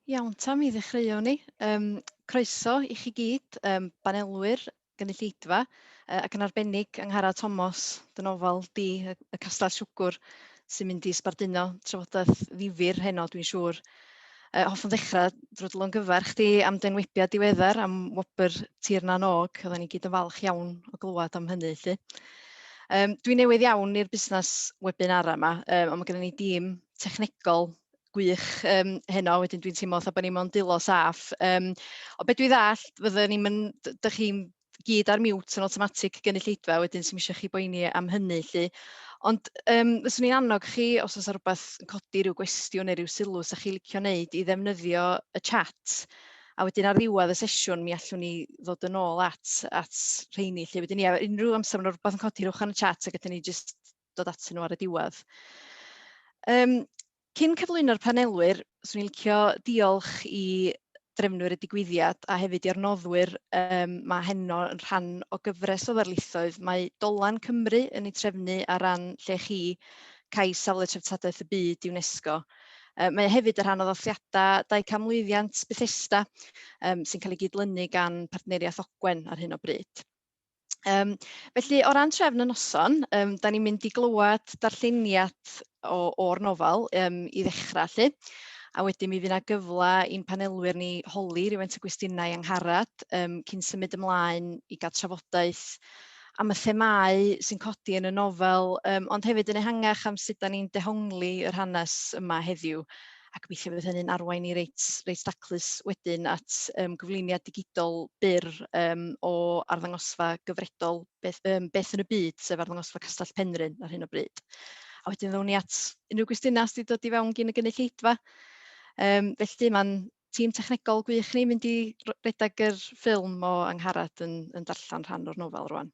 Iawn ta, mi ddechreuwn ni. Um, croeso i chi gyd, um, banelwyr, gynulleidfa, uh, ac yn arbennig Anghara Tomos, dynofal di y, y Castell Siwgwr, sy'n mynd i sbarduno trafodaeth ddifur heno, dwi'n siŵr. Uh, hoffwn ddechrau drwy dy longyfarch chdi am denwibiad diweddar am wobr Tir Na'n Og. Oedden ni gyd yn falch iawn o glywed am hynny. Lly. Um, Dwi'n newydd iawn i'r busnes webinara yma, um, ond mae gennym ni dîm technegol gwych um, heno, wedyn dwi'n teimlo fatha bod ni'n mewn dilo saff. Um, o beth dwi ddall, fydden ni'n mynd, dych chi'n gyd ar mute yn awtomatig gynulleidfa wedyn sy'n eisiau chi boeni am hynny lly. Ond um, fyswn i'n annog chi, os oes rhywbeth yn codi rhyw gwestiwn neu rhyw sylw sy'ch chi licio wneud, i ddefnyddio y chat. A wedyn ar ddiwedd y sesiwn, mi allwn ni ddod yn ôl at, at rheini. Lle wedyn ni, a unrhyw amser mae'n rhywbeth yn codi rhywch yn y chat, ac ydyn ni jyst dod at nhw ar y diwedd. Um, Cyn cyflwyno'r panelwyr, 'swn i'n licio diolch i drefnwyr y digwyddiad a hefyd i'r noddwyr um, mae heno yn rhan o gyfres o ddarlithoedd. Mae Dolan Cymru yn ei trefnu ar ran lle chi cais safle treftadaeth y byd UNESCO. Uh, mae hefyd yn rhan o ddathliadau 200 mlwyddiant Bethesda um, sy'n cael ei gydlynu gan partneriaeth Ogwen ar hyn o bryd. Um, felly, o ran trefn y noson, um, da ni'n mynd i glywed darlleniad o'r nofel um, i ddechrau lle, a wedyn mi fydd yna gyfle i'n panelwyr ni holi rhywun y gwestiynau angharad um, cyn symud ymlaen i gael trafodaeth am y themau sy'n codi yn y nofel, um, ond hefyd yn ehangach am sut da ni'n dehongli yr hanes yma heddiw a gobeithio fydd hynny'n arwain ni reit reit daclus wedyn at yym gyflwyniad digidol byr yym o arddangosfa gyfredol beth yym beth yn y byd, sef arddangosfa Castell Penrhyn ar hyn o bryd. A wedyn ddown ni at unrhyw gwestiynau sydd wedi dod i fewn gyn y gynulleidfa. Um, felly mae'n tîm technegol gwych ni mynd i redeg yr ffilm o Angharad yn, yn darllen rhan o'r nofel rwan.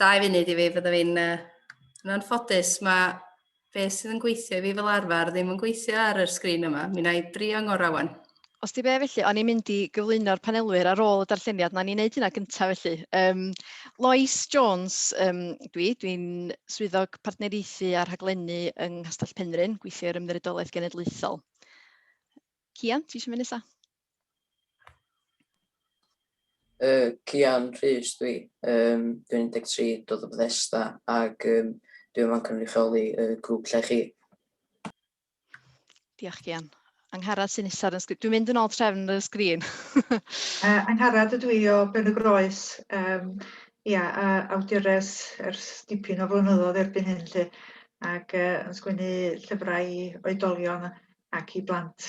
Dau funud i fi, fydda fi'n... Yn anffodus, mae be sydd yn gweithio i fi fel arfer ddim yn gweithio ar yr sgrin yma. Mi wna i drio ngorau wan. Os di be felly, o'n i'n mynd i gyflwyno'r panelwyr ar ôl y darlleniad, na ni'n neud hynna gyntaf felly. Um, Lois Jones, um, dwi, dwi'n swyddog partneriaethu a rhaglennu yng Nghastell Penrhyn, gweithio i'r Ymddiriedolaeth Genedlaethol. Cian, ti eisiau mynd nesaf? Uh, Cian Rhys dwi, um, dwi'n 13, dod o Bethesda ac um, dwi'n yma'n cynrychioli y uh, grŵp lle chi. Diolch Cian. Angharad sy'n isod yn sgrin. Dwi'n mynd yn ôl trefn y sgrin. uh, Angharad ydw i o Ben y Groes. Um, ia, a awdures ers dipyn o flynyddoedd erbyn hyn lle ac uh, yn sgwennu llyfrau i oedolion ac i blant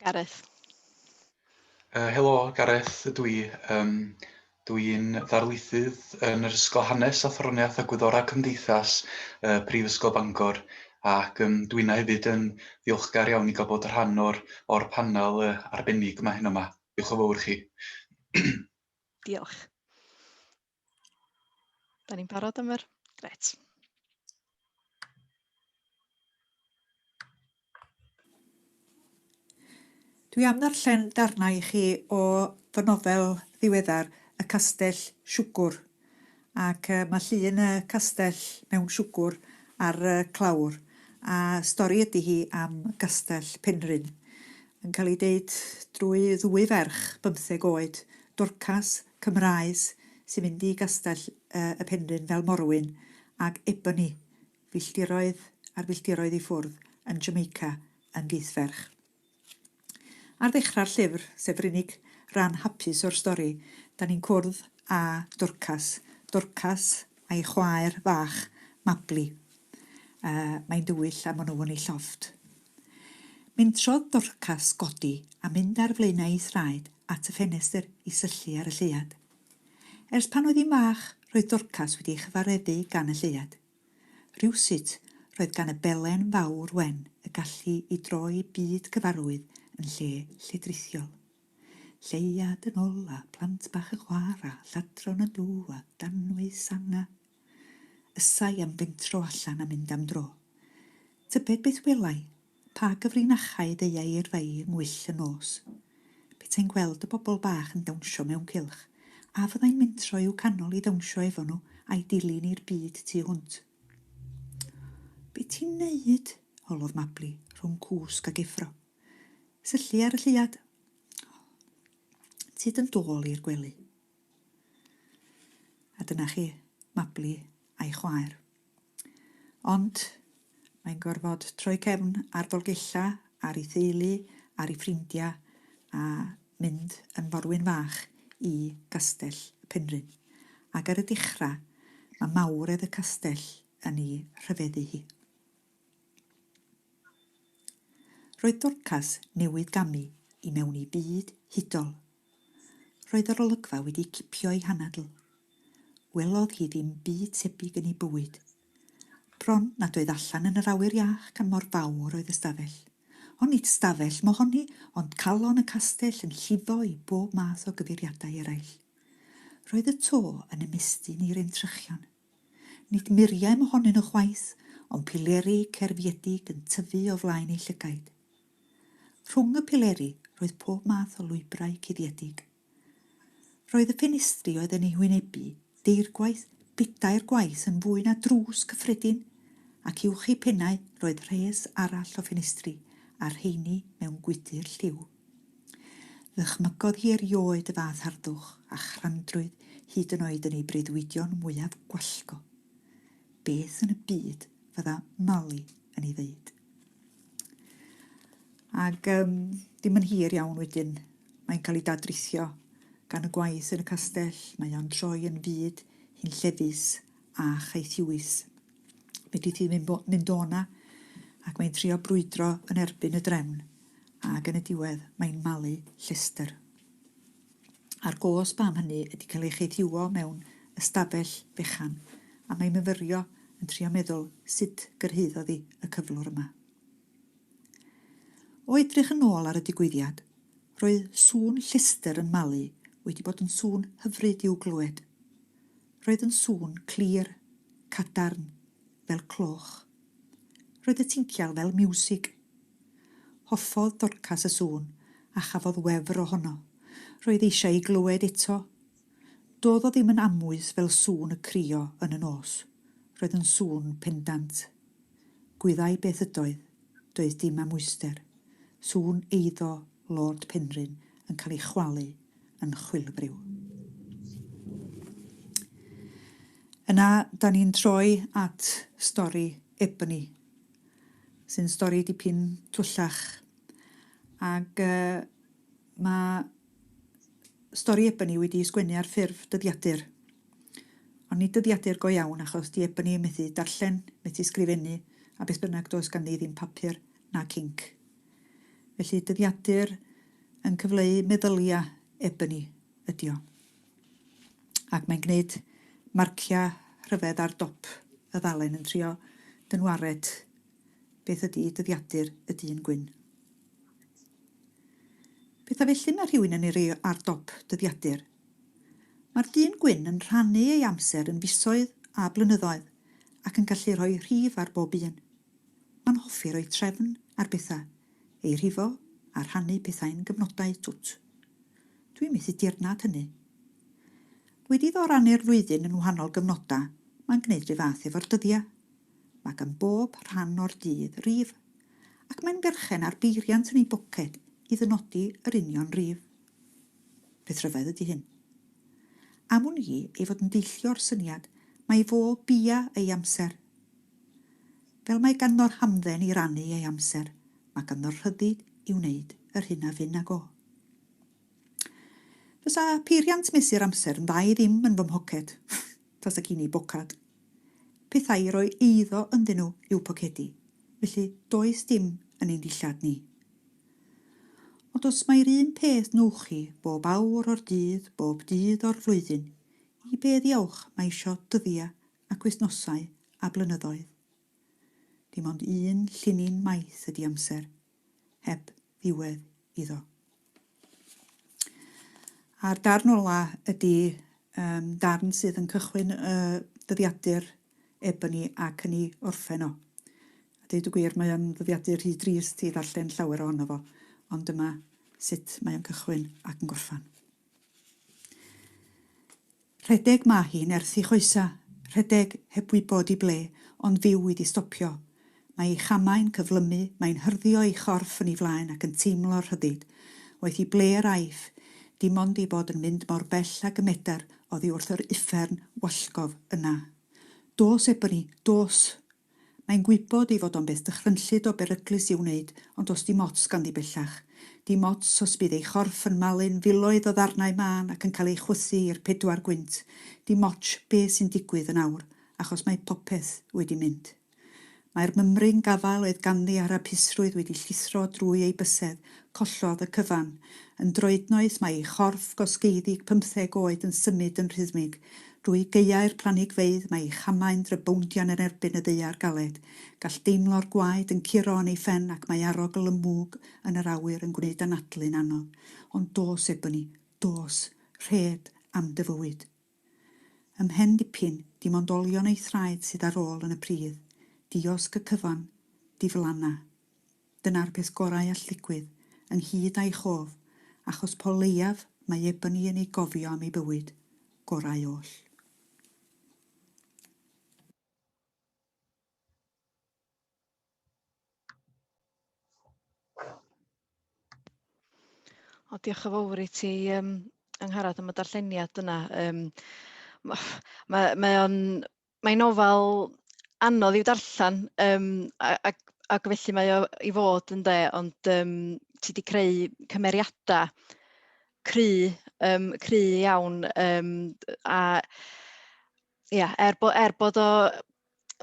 Gareth. Uh, helo, Gareth ydw i. Um, dw i'n ddarlithydd yn yr Ysgol Hanes a Throniaeth a Gwyddorau Cymdeithas uh, Prifysgol Bangor ac um, dw i'n hefyd yn ddiolchgar iawn i gael bod rhan o'r, or panel uh, arbennig yma hyn yma. Diolch o fawr chi. Diolch. Da ni'n barod am yr... Gret. Dwi am ddarllen darnau i chi o fy nofel ddiweddar, Y Castell Siwgwr. Ac yy mae llun y castell mewn siwgwr ar y clawr, a stori ydy hi am Gastell Penrhyn. Yn cael ei deud drwy ddwy ferch bymtheg oed, Dorcas Cymraes sy'n mynd i Gastell y Penrhyn fel morwyn ag Ebony, filltiroedd ar filltiroedd i ffwrdd yn Jamaica yn gieithferch. Ar ddechrau'r llyfr, sef yr unig ran hapus o'r stori, 'dan ni'n cwrdd â Dorcas, Dorcas a'i chwaer fach, Mabli. a mae'n dywyll a mwnwwn ei llofft. Mentrodd Dorcas godi a mynd ar flaenau ei thraed at y ffenestr i syllu ar y lleuad. Ers pan oedd hi'n fach, roedd Dorcas wedi ei chyfareddu gan y lleuad. Rywsut, roedd gan y belen fawr wen y gallu i droi byd cyfarwydd yn lle lledrithiol. Lleuad yn ol a plant bach yn chwara, lladron yn dŵ a danwy sanga. Ysai am fentro allan a mynd am dro. Tybed beth welai? Pa gyfrinachau ddeuai yrfai yng ngwyll y nos? Petai'n gweld y bobl bach yn dawnsio mewn cylch, a fyddai'n mentro i'w canol i ddawnsio efo nhw a'i dilyn i'r byd tu hwnt. Be ti'n neud? holodd Mabli, rhwng cwsg ac effro. Syllu ar y lleuad. Tyd yn dôl i'r gwely. A dyna chi, Mabli a'i chwaer. Ond mae'n gorfod troi cefn ar Dolgella, ar ei theulu, ar ei ffrindiau, a mynd yn forwyn fach i Gastell y Penrhyn. Ac ar y dechrau, mae mawredd y castell yn ei rhyfeddu hi. Roedd Dorcas newydd gamu i mewn i byd hudol. Roedd yr olygfa wedi cipio ei hanadl. Welodd hi ddim byd tebyg yn ei bywyd. Bron nad oedd allan yn yr awyr iach gan mor fawr oedd y stafell. Ond nid stafell mohoni, ond calon y castell yn llifo i bob math o gyfeiriadau eraill. Roedd y to yn ymestyn i'r entrychion. Nid muriau mohonyn nhw chwaith, ond pileri cerfiedig yn tyfu o flaen eu llygaid. Rhwng y pileri roedd pob math o lwybrau cuddiedig. Roedd y ffenestri oedd yn eu hwynebu deirgwaith bedair gwaith yn fwy na drws cyffredin, ac uwch eu pennau roedd rhes arall o ffenestri, a'r rheiny mewn gwydr lliw. Ddychmygodd hi erioed y fath harddwch a chrandrwydd hyd yn oed yn ei breuddwydion mwyaf gwallgo. Beth yn y byd fydda Mali yn ei ddeud? Ac um, dim yn hir iawn wedyn, mae'n cael ei dadrithio gan y gwaith yn y castell, mae o'n troi yn fyd hunllefus a chaethiwus. Fedri di ddim mynd o 'na ac mae'n trio brwydro yn erbyn y drefn ac yn y diwedd mae'n malu llestr. A'r gos bam hynny ydi cael ei cheidhiwo mewn ystafell fechan a mae'n myfyrio yn trio meddwl sut gyrhaeddodd i y cyflwr yma. O edrych yn ôl ar y digwyddiad, roedd sŵn llestr yn malu wedi bod yn sŵn hyfryd i'w glywed. Roedd yn sŵn clir, cadarn, fel cloch. Roedd y tincial fel miwsig. Hoffodd Dorcas y sŵn a chafodd wefr ohono. Roedd eisiau ei glywed eto. Doedd o ddim yn amwys fel sŵn y crio yn y nos. Roedd yn sŵn pendant. Gwyddai beth ydoedd, doedd dim am wyster. Sŵn eiddo Lord Penrhyn yn cael ei chwalu yn chwilfriw. Yna, da ni'n troi at stori Ebony, sy'n stori dipyn twllach. Ac uh, mae stori Ebony wedi sgwennu ar ffurf dyddiadur. Ond nid dyddiadur go iawn achos di Ebony methu darllen, methu sgrifennu a beth bynnag does ganddi ddim papur nac inc. Felly dyddiadur yn cyfleu meddylia Ebony ydi o. Ac mae'n gwneud marcia rhyfedd ar dop y ddalen yn trio dynwared beth ydi dyddiadur y dyn gwyn. Petha felly mae rhywun yn ei roi ar dop dyddiadur Mae'r dyn gwyn yn rhannu ei amser yn fisoedd a blynyddoedd ac yn gallu rhoi rhif ar bob un. Mae'n hoffi rhoi trefn ar bethau, ei rhifo a rhannu pethau'n gyfnodau twt. Dwi'n methu dirnad hynny. Wedi iddo rannu'r flwyddyn yn wahanol gyfnodau, mae'n gwneud rhyw fath efo'r dyddiau. Mae gan bob rhan o'r dydd rif, ac mae'n berchen ar beiriant yn ei boced i ddynodi yr union rif. Beth rhyfedd ydy hyn? Am wn i ei fod yn deillio'r syniad mai fo bia ei amser. Fel mae ganddo'r hamdden i rannu ei amser, mae ganddo'r rhyddid i wneud yr hyn a fyn ag o. Fysa peiriant mesur amser yn dda i ddim yn fy mhoced, tasa gin i bocad. Pethau i roi eiddo ynddyn nhw i'w pocedi, felly does dim yn ein dillad ni. Ond os mai'r un peth wnewch chi bob awr o'r dydd, bob dydd o'r flwyddyn, i be ddiawch mae isio dyddie ac wythnosau a blynyddoedd? Dim ond un llinyn maith ydi amser, heb ddiwedd iddo. A'r darn ola ydi um, darn sydd yn cychwyn y dyddiadur Ebony ac yn ei orffen o. A deud y gwir, mae o'n ddyddiadur rhy drist i ddarllen llawer ohono fo, ond dyma sut mae o'n cychwyn ac yn gorffen. Rhedeg mae hi'n erthu choesa, rhedeg heb wybod i ble, ond fyw i di stopio, Mae ei chamau'n cyflymu, mae'n hyrddio ei chorff yn ei flaen ac yn teimlo'r rhyddid. Waeth i ble yr aiff, dim ond ei bod yn mynd mor bell ag y medar oddi wrth yr uffern wallgof yna. Dos, Ebony, dos! Mae'n gwybod ei fod o'n beth dychrynllyd o beryglus i'w wneud, ond does dim ots ganddi bellach. Dim ots os bydd ei chorff yn malu'n filoedd o ddarnau mân ac yn cael ei chwythu i'r pedwar gwynt, dim otsh be sy'n digwydd yn awr, achos mae popeth wedi mynd. Mae'r mymryn gafael oedd ganddi a'r hapusrwydd wedi llithro drwy ei bysedd, collodd y cyfan. Yn droednoeth mae ei chorff gosgeiddig pymtheg oed yn symud yn rhythmig. Drwy gaeau'r planigfeydd mae ei chamau'n drybowndian yn erbyn y ddaear galed. Gall deimlo'r gwaed yn curo yn ei phen ac mae arogl y mwg yn yr awyr yn gwneud anadlu'n anodd. Ond dos, Ebony, dos! Rhed am dy fywyd! Ym mhen dipyn, dim ond olion ei thraed sydd ar ôl yn y pridd, diosg y cyfan, diflanna. Dyna'r peth gorau all ddigwydd, ynghyd â'i chof, achos po leiaf mae Ebony yn ei gofio am ei bywyd gorau oll. O, diolch yn fawr i ti, um, Angharad, am y darlleniad yna. Um, mae, mae o'n, mae nofel anodd i'w darllen, um, ac, ac felly mae o i fod yn de, ond um, ti wedi creu cymeriadau cry, um, cry iawn, um, a ia, er, bo, er bod o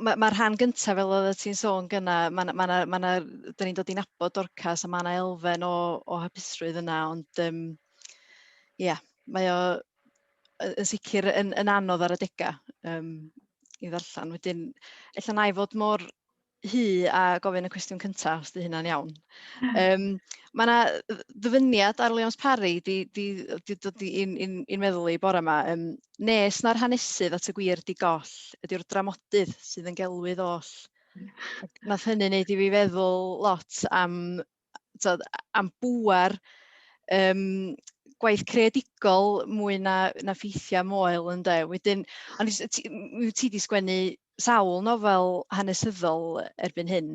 mae'r ma rhan gyntaf fel oedd ti'n sôn gyna, mae yna, ma yna, ma yna, dyn ni'n dod i'n abod dorcas a mae yna elfen o, o hapusrwydd yna, ond um, yeah, mae o yn sicr yn, yn anodd ar y degau um, i ddarllen. Wedyn, efallai na i fod mor Huw a gofyn y cwestiwn cyntaf, os 'di hynna'n iawn. Um, Mae yna ddyfyniad ar Leons Parry di, di, di dod i'n in, in meddwl i bore yma. Um, nes na'r hanesydd at y gwir di goll, ydy'r dramodydd sydd yn gelwydd oll. Nath hynny wneud i fi feddwl lot am tibod, am bŵer um, gwaith creadigol mwy na, na ffeithiau moel ynde. Wedyn, ond ti, ti, ti di sgwennu sawl nofel hanesyddol erbyn hyn.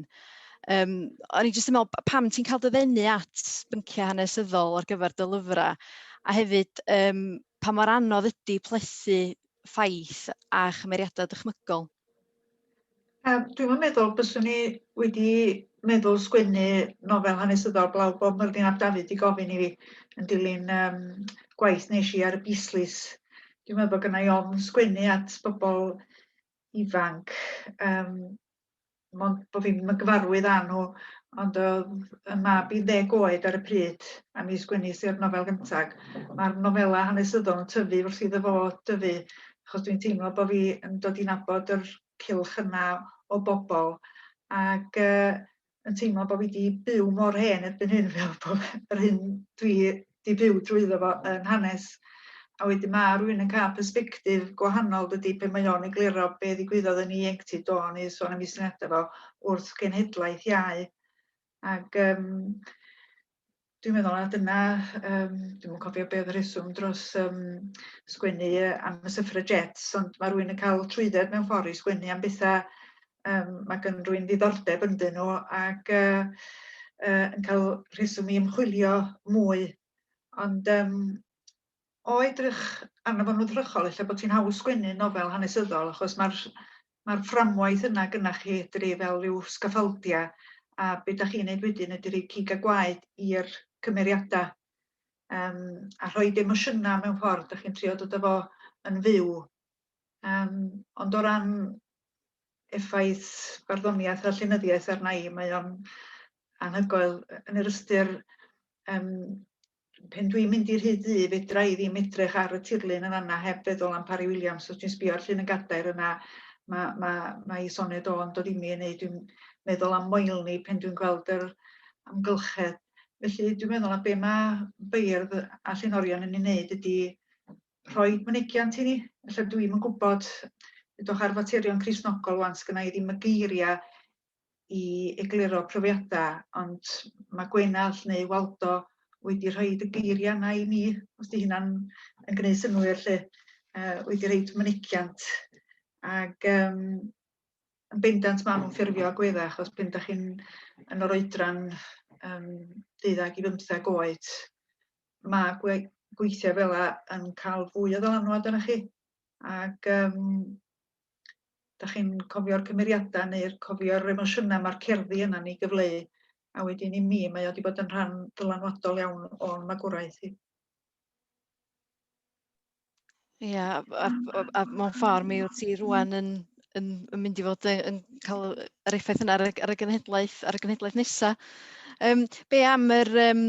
Um, o'n i jyst yn meddwl, pam ti'n cael dyfennu at bynciau hanesyddol ar gyfer dy lyfrau? A hefyd, um, pa mor anodd ydy plethu ffaith a chymeriadau dychmygol? Yym dwi'm yn meddwl byswn i wedi meddwl sgwennu nofel hanesyddol blaw bob Myrddin ap Dafydd 'di gofyn i fi yn dilyn yym gwaith nes i ar y Beasleys. Dwi'n meddwl bod gynna i ofn sgwennu at bobl ifanc yym mond bo' fi'm yn gyfarwydd â nhw ond o'dd 'yn mab i'n ddeg oed ar y pryd a mi sgwenis i'r nofel gynta. Ma'r nofela hanesyddol yn tyfu wrth iddo fo dyfu achos dwi'n teimlo bod fi yn dod i nabod yr cylch yna o bobl ac uh, yn teimlo bod fi wedi byw mor hen erbyn hyn fel bod yr hyn dwi wedi byw drwyddo fo yn hanes. A wedyn mae rhywun yn cael perspektif gwahanol dydy pe mae o'n egluro be ddigwyddodd yn ieuenctid do neu sôn am ei syniadau fo wrth genhedlaeth iau. Ac um, Dwi'n meddwl na dyna yym dwi'm yn cofio be' odd y rheswm dros yym sgwennu yy am y suffragettes ond ma' rywun yn ca'l trwydded mewn ffor i sgwennu am betha yym ma' gyn rywun ddiddordeb ynddyn nhw ac yy yy yn ca'l rheswm i ymchwilio mwy ond yym o edrych arno fo'n wddrychol ella bod hi'n haws sgwennu nofel hanesyddol achos mae'r mae'r fframwaith yna gynnach chi edru fel rhyw sgaffaldia a be da chi'n neud wedyn ydy rhoi cig a gwaed i'r cymeriadau um, a rhoi emosiynau mewn ffordd, da chi'n trio dod â fo yn fyw. Um, ond o ran effaith barddoniaeth a llenyddiaeth arna i, mae o'n anhygoel yn yr ystyr um, Pen dwi'n mynd i'r hyd ddu, fedra i ddim edrych ar y tirlun yn fanna heb feddwl am Parry Williams. Os dwi'n sbio ar llun yn gadair yna, mae ma, ma i soned o'n dod imi yn ei, dwi'n meddwl am moelni pen dwi'n gweld yr amgylchedd. Felly dwi'n meddwl na be mae beirdd a llenorion yn ei wneud ydy rhoi mynegiant i ni. Felly dwi'n yn gwybod, edrych ar faterion Crisnogol wan, sgynnau i ddim y geiriau i egluro profiadau, ond mae Gwenallt neu Waldo wedi rhoi y geiriau yna i mi, os di hynna'n yn gwneud synnwyr lle, uh, wedi rhoi mynegiant. Ac um, yn bendant maen nhw'n ffurfio agweddau, achos pen da chi'n yn o'r oedran um, 12 i 15 oed, mae gwe gweithiau fel yna yn cael fwy o ddylanwad arnoch chi. Ac um, dach chi'n cofio'r cymeriadau neu'r cofio'r emosiynau mae'r cerddi yna'n ei gyfleu, a wedyn i mi mae o wedi bod yn rhan ddylanwadol iawn o'n magwraeth i. Ie, a, a, a, a mewn ffordd mi wyt ti rwan yn, yn, yn mynd i fod yn, yn cael yr effaith yna ar y, ar y genhedlaeth, ar y genhedlaeth nesaf. Um, be am yr, um,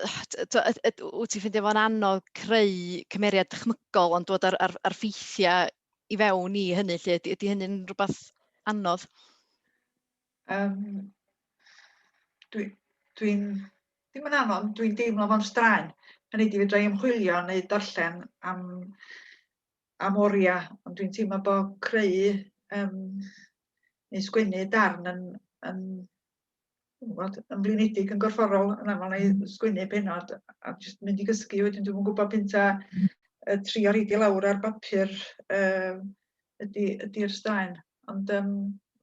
wyt ti'n ffeindio fo'n anodd creu cymeriad dychmygol ond dod ar, ar, ar ffeithiau i fewn i hynny 'lly? Ydy ydy hynny'n rhywbeth anodd? Um, dwi, dwi'n, ddim yn anodd, dwi'n deimlo fo'n straen. Hynny di fedra i ymchwilio neu darllen am, am oriau, ond dwi'n teimlo bod creu um, neu sgwennu darn yn, yn yn gwybod, yn flinedig yn gorfforol yn aml neu sgwennu pennod a jyst mynd i gysgu wedyn dwi'm yn gwybod pyn ta yy trio roid i lawr ar bapur yy ydy ydy'r straen ond yym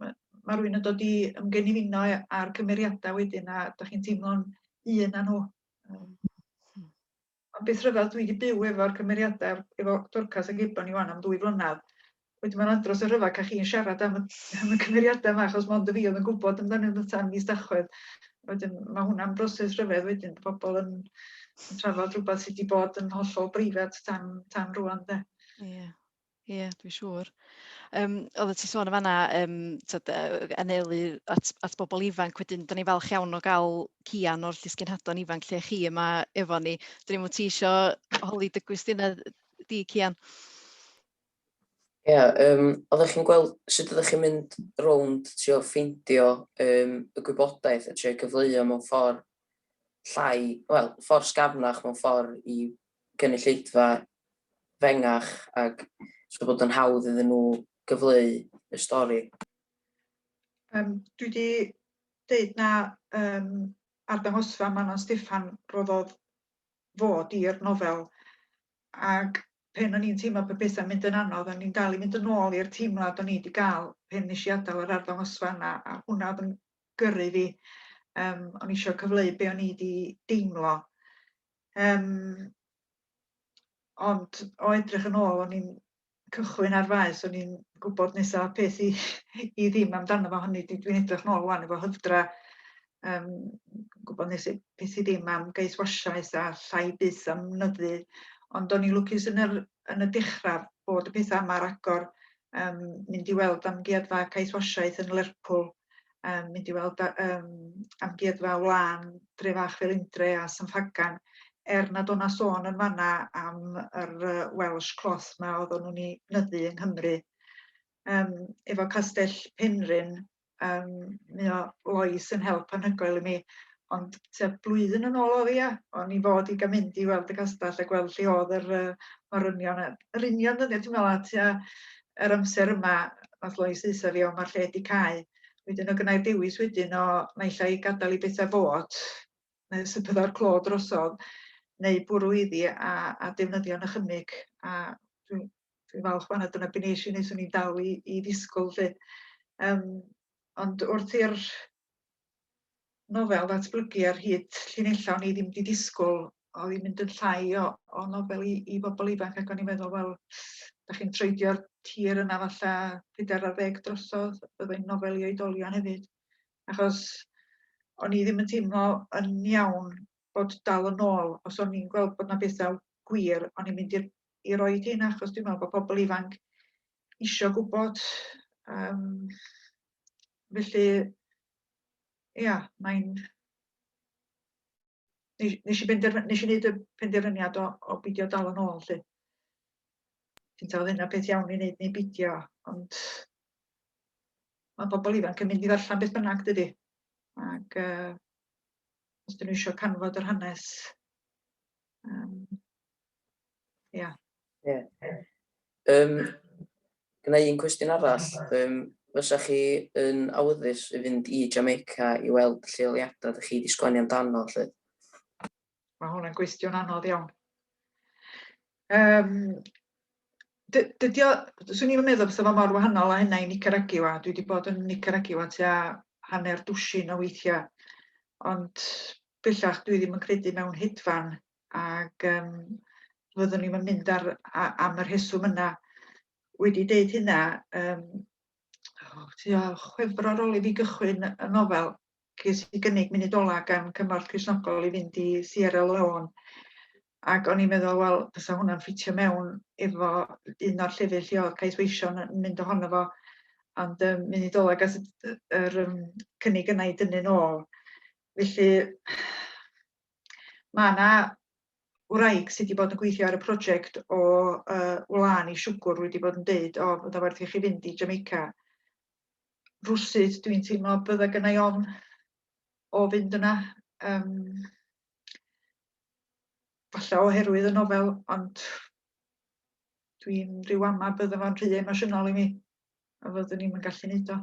ma' ma' rywun yn dod i ymgenifino â'r cymeriadau wedyn a dach chi'n teimlo'n un â nhw. Ma'n beth rhyfedd, dwi 'di byw efo'r cymeriada efo Dorcas ac Eban i ŵan am ddwy flynadd, wedyn ma'n andros o rhyfedd ca'l chi yn siarad am y am y cymeriada 'ma achos mond y fi o'dd yn gwbod amdanyn nw tan mis Tachwedd. Wedyn ma' hwnna'n broses rhyfedd wedyn bo' pobol yn yn trafod rwbath sy 'di bod yn hollol breifat tan tan rŵan 'de. Ie. Ie, dwi'n siŵr. Yym, oeddet ti'n sôn yn fanna, yym, tibod, yy, anelu at at bobl ifanc, wedyn dan ni'n falch iawn o gael Kian o'r llysgenhadon ifanc lle chi yma efo ni. Dwi ddim yn ti isio holi dy gwestiynau di, Kian? Ie, um, oeddech chi'n gweld sut oeddech chi'n mynd rownd trio ffeindio um, y gwybodaeth a trio cyfleu mewn ffordd llai, wel, ffordd sgafnach mewn ffordd i gynulleidfa fengach ac so bod yn hawdd iddyn nhw gyfleu y stori. Um, dwi wedi dweud na um, arddangosfa Manon Steffan roddodd fod i'r nofel ac pen o'n i'n teimlo pe beth yn mynd yn anodd, o'n i'n dal i mynd yn ôl i'r teimlad o'n i wedi gael pen nes i adael yr arddangosfa yna a hwnna oedd yn gyrru fi. Um, o'n i eisiau cyfleu be o'n i wedi deimlo. Yym, ond o edrych yn ôl, o'n i'n cychwyn ar faes, o'n i'n gwybod nesa peth i i ddim amdano fo, hynny ydi dwi'n edrych nôl ŵan efo hyfdra, yym, gwybod nes i peth i ddim am geis wasiaeth a llai byth am nyddu, ond o'n i'n lwcus yn yr yn y dechra bod y petha yma ar agor, um, mynd i weld amgueddfa caethwasiaeth yn Lerpwl, um, mynd i weld um, amgueddfa wlân Dre Fach fel Indre a Sanfagan, er nad o'na sôn yn fanna am yr Welsh cloth ma oedd o'n nhw'n ei nyddu yng Nghymru. Um, efo Castell Penrhyn, Yym mae o Lois yn help anhygoel i mi ond tua blwyddyn yn ôl o'dd 'i ia? O'n i fod i ga'l mynd i weld y castell a gweld lle o'dd yr yy morynion a yr union ddyddia' dwi me'wl a tua yr amser yma nath Lois ddeutha fi o ma'r lle 'di cau. Wedyn o' gynnai dewis wedyn o naill ai gadal i betha fod neu os y bydda'r clo drosodd neu bwrw iddi a a defnyddio nychymyg a dwi'n dwi'n falch fanna dyna be nes i nes o'n i'n dal i, i ddisgwyl lle. Um, ond wrth i'r nofel ddatblygu ar hyd llinellau o'n i ddim wedi disgwyl oedd hi'n mynd yn llai o, o nofel i, i bobl ifanc ac o'n i'n meddwl, wel, da chi'n treidio'r tir yna falle peder ar ddeg drosodd, byddai'n nofel i oedolion hefyd. Achos o'n i ddim yn teimlo yn iawn bod dal yn ôl, os o'n i'n gweld bod yna bethau gwir, o'n i'n mynd i'r i roid hyn achos dwi'n meddwl bod pobl ifanc eisiau gwybod um, felly ia mae'n nes i benderfynu nes i wneud y penderfyniad o, o bidio dal yn ôl lly. Ti'n taw hynna peth iawn i wneud neu bidio ond mae pobl ifanc yn mynd i ddarllen beth bynnag dydy. Ac uh, os dyn nhw eisiau canfod yr hanes, um, Ia. Ie. Yym, gyda un cwestiwn arall, Yym, fysa chi yn awyddus i fynd i Jamaica i weld lleoliadau ydych chi wedi sgwennu amdano lle? Mae hwnna'n gwestiwn anodd iawn. Um, dydy o, swn i'n meddwl bod o'n mor wahanol a hynna i Nicaragua. Dwi wedi bod yn Nicaragua tua hanner dwsin o weithiau, ond bellach dwi ddim yn credu mewn hedfan ac um, fyddwn ni'n mynd ar, a, am y rheswm yna. Wedi deud hynna, um, oh, tua chwefr ar ôl i fi gychwyn y nofel, ges i gynnig munud ola gan Cymorth Crisnogol i fynd i Sierra Leone. Ac o'n i'n meddwl, wel, fysa hwnna'n ffitio mewn efo un o'r llefydd lle oedd Cais Weision yn mynd ohono fo. Ond um, munud ola gas yr um, cynnig yna i dynnu'n ôl. Felly, Mae yna wraig sydd wedi bod yn gweithio ar y prosiect o uh, wlân i siwgwr wedi bod yn deud, o, fydda werth i chi fynd i Jamaica. Rwsydd, dwi'n teimlo bydda gynnau ofn o fynd yna. Um, falle oherwydd y nofel, ond dwi'n rhyw ama bydda fo'n rhy emosiynol i mi, a fyddwn ni'n gallu neud o.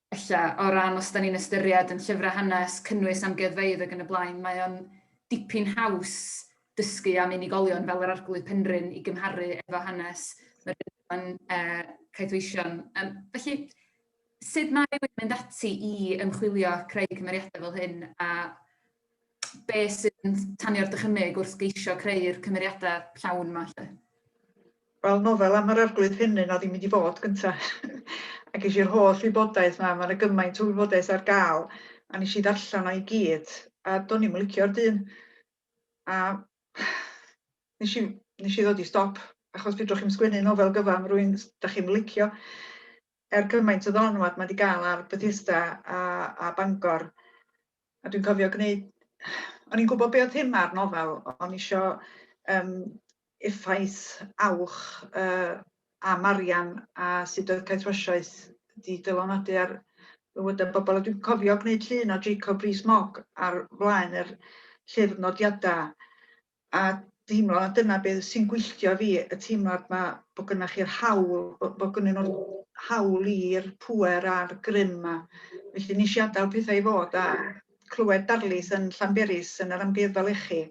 Ella, o ran os dan ni'n ystyried yn llyfrau hanes, cynnwys amgueddfeydd ac yn y blaen, mae o'n dipyn haws dysgu am unigolion fel yr Arglwydd Penrhyn i gymharu efo hanes yr Iddewon Caethweision. Yym felly, sut mae rhywun yn mynd ati i ymchwilio a creu cymeriadau fel hyn a be sy'n tanio'r dychymyg wrth geisio creu'r cymeriadau llawn yma 'lly? Wel, nofel am yr Arglwydd Rhennyn oedd hi'n mynd i fod gynta. a ges i'r holl wybodaeth 'ma, mae 'na gymaint o wybodaeth ar gael, a nes i ddarllen o i gyd, a do'n i'm yn licio'r dyn. A nes i nes i ddod i stop, achos fedrwch chi'm sgwennu nofel gyfan rwy'n 'dach chi'm yn licio. er gymaint o ddylanwad mae wedi cael ar Bethesda a, a Bangor. A dwi'n cofio gwneud... O'n i'n gwybod be oedd thema ar nofel, o'n isio um, effaith awch uh, a Marian a sut oedd caethwasiaeth di dylanwadu ar fywydau bobl. A dwi'n cofio gwneud llun o Jacob Rees-Mogg ar flaen yr llyfr nodiadau a deimlo na dyna be' sy'n gwylltio fi, y teimlad 'ma bo' gynnoch chi'r hawl, bo' bo' gynnyn nhw'r hawl i'r pŵer a'r grym 'ma. Felly nes i adael pethau i fod a clywed darlith yn Llanberis yn yr Amgueddfa Lechi,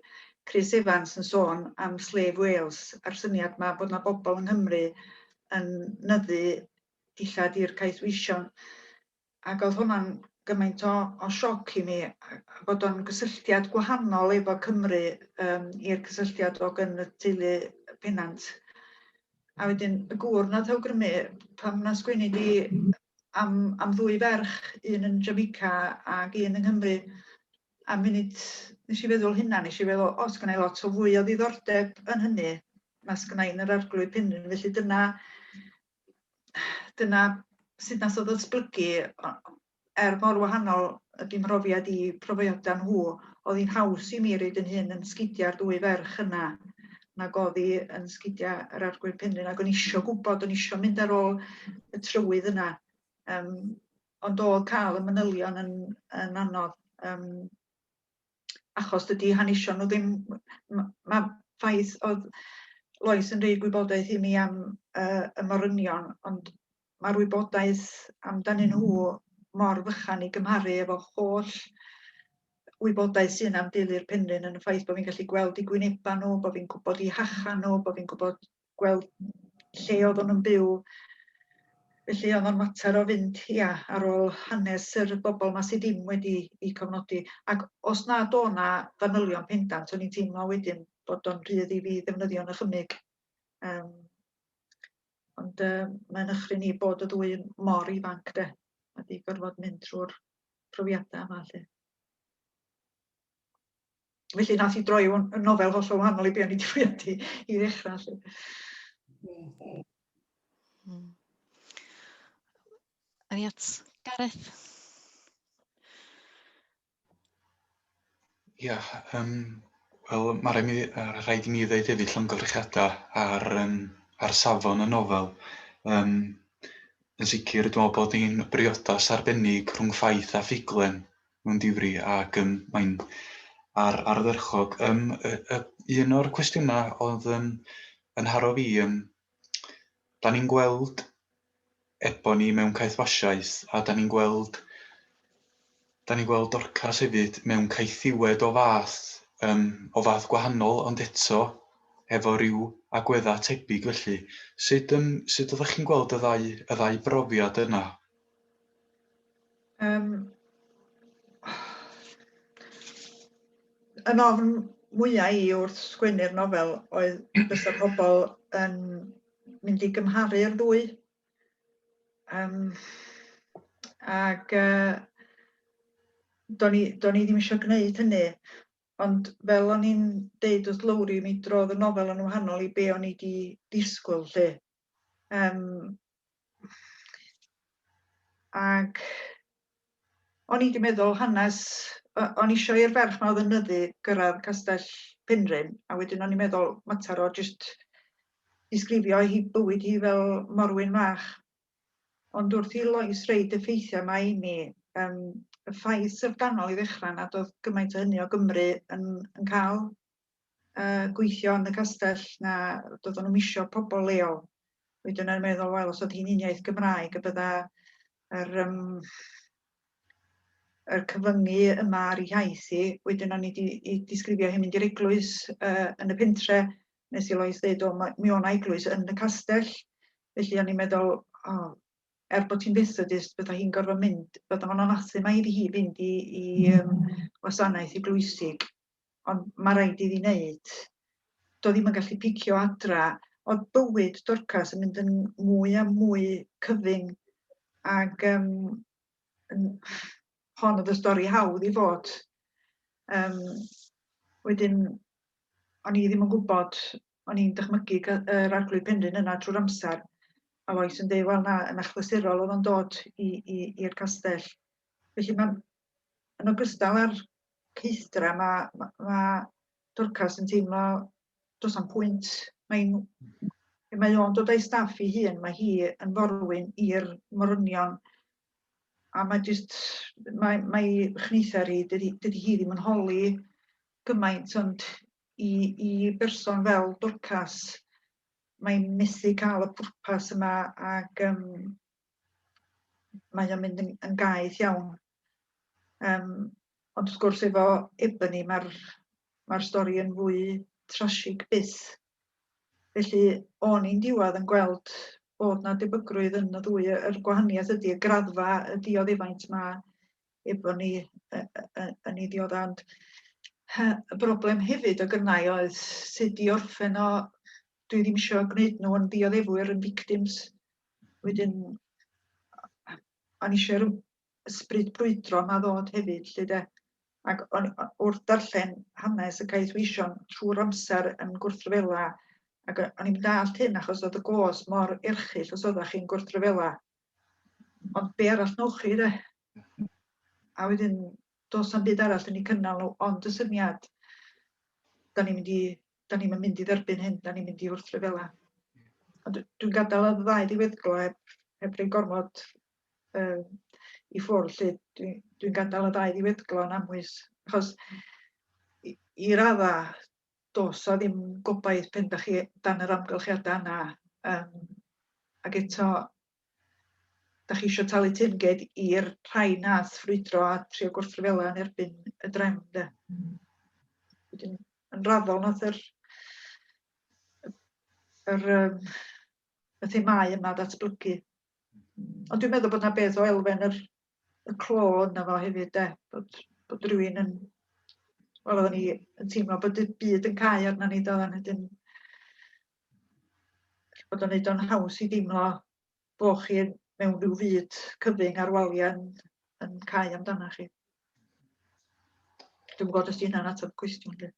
Chris Evans yn sôn am Slave Wales a'r syniad 'ma bod 'na bobl yng Nghymru yn nyddu dillad i'r caethweision. ac oedd hwnna'n gymaint o o sioc i mi yy bod o'n gysylltiad gwahanol efo Cymru yym i'r cysylltiad o gyn y teulu Pennant. A wedyn y gŵr nath awgrymu pan nath sgwennu di am am ddwy ferch, un yn Jamaica ac un yng Nghymru a munud nes i feddwl hynna nes i feddwl o sgynna i lot o fwy o ddiddordeb yn hynny na sgynna i yn yr arglwydd Penrhyn felly dyna dyna sut nath o ddatblygu er mor wahanol ydy mhrofiad i profiada nhw, oedd hi'n haws i mi reid yn hyn yn sgidiau'r dwy ferch yna nag oedd hi yn sgidiau yr arglwydd penrhyn ac o'n isio gwybod, o'n isio mynd ar ôl y trywydd yna. Um, ond oedd cael y manylion yn, yn anodd. Um, achos dydy hanesion nhw ddim... m- ma' ffaith oedd Lois yn rhoi gwybodaeth i mi am yy y morynion ond mae'r wybodaeth amdanyn nhw mor fychan i gymharu efo holl wybodaeth sy'n am deulu'r Penrhyn yn y ffaith bod fi'n gallu gweld eu gwynebau nhw, bod fi'n gwybod eu hachan nhw, bod fi'n gwybod gweld lle oedden nhw'n byw. Felly oedd o'n fater o fynd, ia, ar ôl hanes yr bobl yma sydd ddim wedi eu cofnodi. Ac os nad o' 'na fanylion pendant, o'n i'n teimlo wedyn bod o'n rhydd i fi ddefnyddio yn y chymig. Um, ond uh, mae'n ychry ni bod y ddwy mor ifanc de, a di gorfod mynd trwy'r profiadau yma lle. felly nath i droi o'n nofel hollol wahanol i be' o'n i 'di fwriadu i ddechrau 'lly. Hmm. Any at Gareth? Ia, yym wel ma' rai' mi yy rhaid i mi ddeud hefyd llongyfarchiada ar yym ar safon y nofel. Yym yn sicr dwi me'wl bod ni'n briodas arbennig rhwng ffaith a ffuglen mewn difri ac yym mae'n ar ardderchog. Yym y y un o'r cwestiyna o'dd yn yn haro fi yym 'dan ni'n gweld Ebon ni mewn caethwasiaeth a 'dan ni'n gweld 'dan ni'n gweld Dorcas hefyd mewn caethiwed o fath yym o fath gwahanol ond eto efo ryw agwedda' tebyg felly sud yym sud oddach chi'n gweld y ddau y ddau brofiad yna? Yym, yn ofn mwyaf i wrth sgwennu'r nofel oedd bysa pobl yn mynd i gymharu'r ddwy. Um, ac uh, do'n i, do i ddim eisiau gwneud hynny. Ond fel o'n i'n deud wrth Lowri, mi drodd y nofel yn wahanol i be o'n i wedi disgwyl lle. Yym ac o'n i 'di meddwl hanes o- o'n i isio i'r ferch 'ma o'dd yn nyddu gyrradd Castell Penrhyn a wedyn o'n i'n meddwl mater o jyst disgrifio hi bywyd hi fel morwyn fach. Ond wrth i Lois roid y ffeithiau 'ma i mi yym y ffaith syfrdanol i ddechrau nad o'dd gymaint o hynny o Gymru yn yn ca'l uh, gweithio yn y castell na doeddwn nhw'n misio pobl leol. Wedi yna'n meddwl, wel, os oedd hi'n uniaith Gymraeg, y bydda yr, um, yr cyfyngu yma ar ei haith i, wedyn o'n i wedi disgrifio hyn mynd i'r eglwys uh, yn y pentre, nes i Lois ddeud, o, mi o'n eglwys yn y castell, felly o'n i'n meddwl, o, oh, er bod hi'n Methodist, bydda hi'n gorfod mynd, bydda fo'n anathu mae iddi hi fynd i, i um, wasanaeth eglwysig. ond mae rhaid iddi wneud. Doedd ddim yn gallu picio adra. Oedd bywyd Dorcas yn mynd yn mwy a mwy cyfyng ac um, yn, hon oedd y stori hawdd i fod. Um, wedyn, o'n i ddim yn gwybod, o'n i'n dychmygu yr arglwydd penrhyn yna drwy'r amser, a Lois yn dweud, wel na, yn achlysurol oedd o'n dod i'r castell. Felly mae'n Yn ogystal â'r caethdra, mae... mae Dorcas yn teimlo does am pwynt. Mae'n... pe mae o'n dod â'i staff i hun, mae hi yn forwyn i'r morynion a mae jyst... mae... mae chneithar hi, dydy... dydy hi ddim yn holi gymaint ond i... i berson fel Dorcas mae'n methu cael y pwrpas yma ac yym mae o'n mynd yn, yn gaeth iawn. Um, ond wrth gwrs efo Ebony mae'r mae stori yn fwy trasig byth. Felly o'n i'n diwedd yn gweld bod na debygrwydd yn y ddwy yr gwahaniaeth ydy y graddfa y dioddefaint mae efo ni yn ei ddiod ond y broblem hefyd o gynnau oedd sut i orffen o dwi ddim eisiau gwneud nhw yn ddioddefwyr yn victims Wedyn o'n i eisiau'r ysbryd brwydro yma ddod hefyd 'lly de. Ac o'n wrth darllen hanes y Caeth Weision trwy'r amser yn gwrthryfela ac o- o'n i'm dallt hyn achos oedd y gos mor erchyll os oeddech chi'n gwrthryfela. Ond be arall newch chi de? A wedyn does na'm byd arall yn eu cynnal nhw ond y syniad 'dan ni'n mynd i da ni'm yn mynd i dderbyn hyn, da ni'n mynd i wrthryfela. Ond dwi'n gadael y ddau ddiweddglo heb, heb rei gormod um, i ffwrdd, lle dwi'n dwi gadael y ddau ddiweddglo yn amwys. Achos i, i radda, dos o ddim gobaith pen da chi dan yr amgylchiadau yna. Um, ac eto, Dach chi isio talu teyrnged i'r rhai nath ffrwydro a trio gwrthryfela yn erbyn y drefn de. Mm. Wedyn yn raddol nath yr yr um, y themau yma ddatblygu. Ond dwi'n meddwl bod 'na beth o elfen yr y clo ynddo fo hefyd 'de, bod bod rhywun yn... Wel oedden ni yn teimlo bod y byd yn cau arna ni doedden, wedyn bod o'n wneud o'n haws i deimlo bo' chi mewn rhyw fyd cyfyng a'r waliau yn yn cau amdana chi. Dwi'm yn gwybod os 'di hynna'n ateb y cwestiwn 'lly.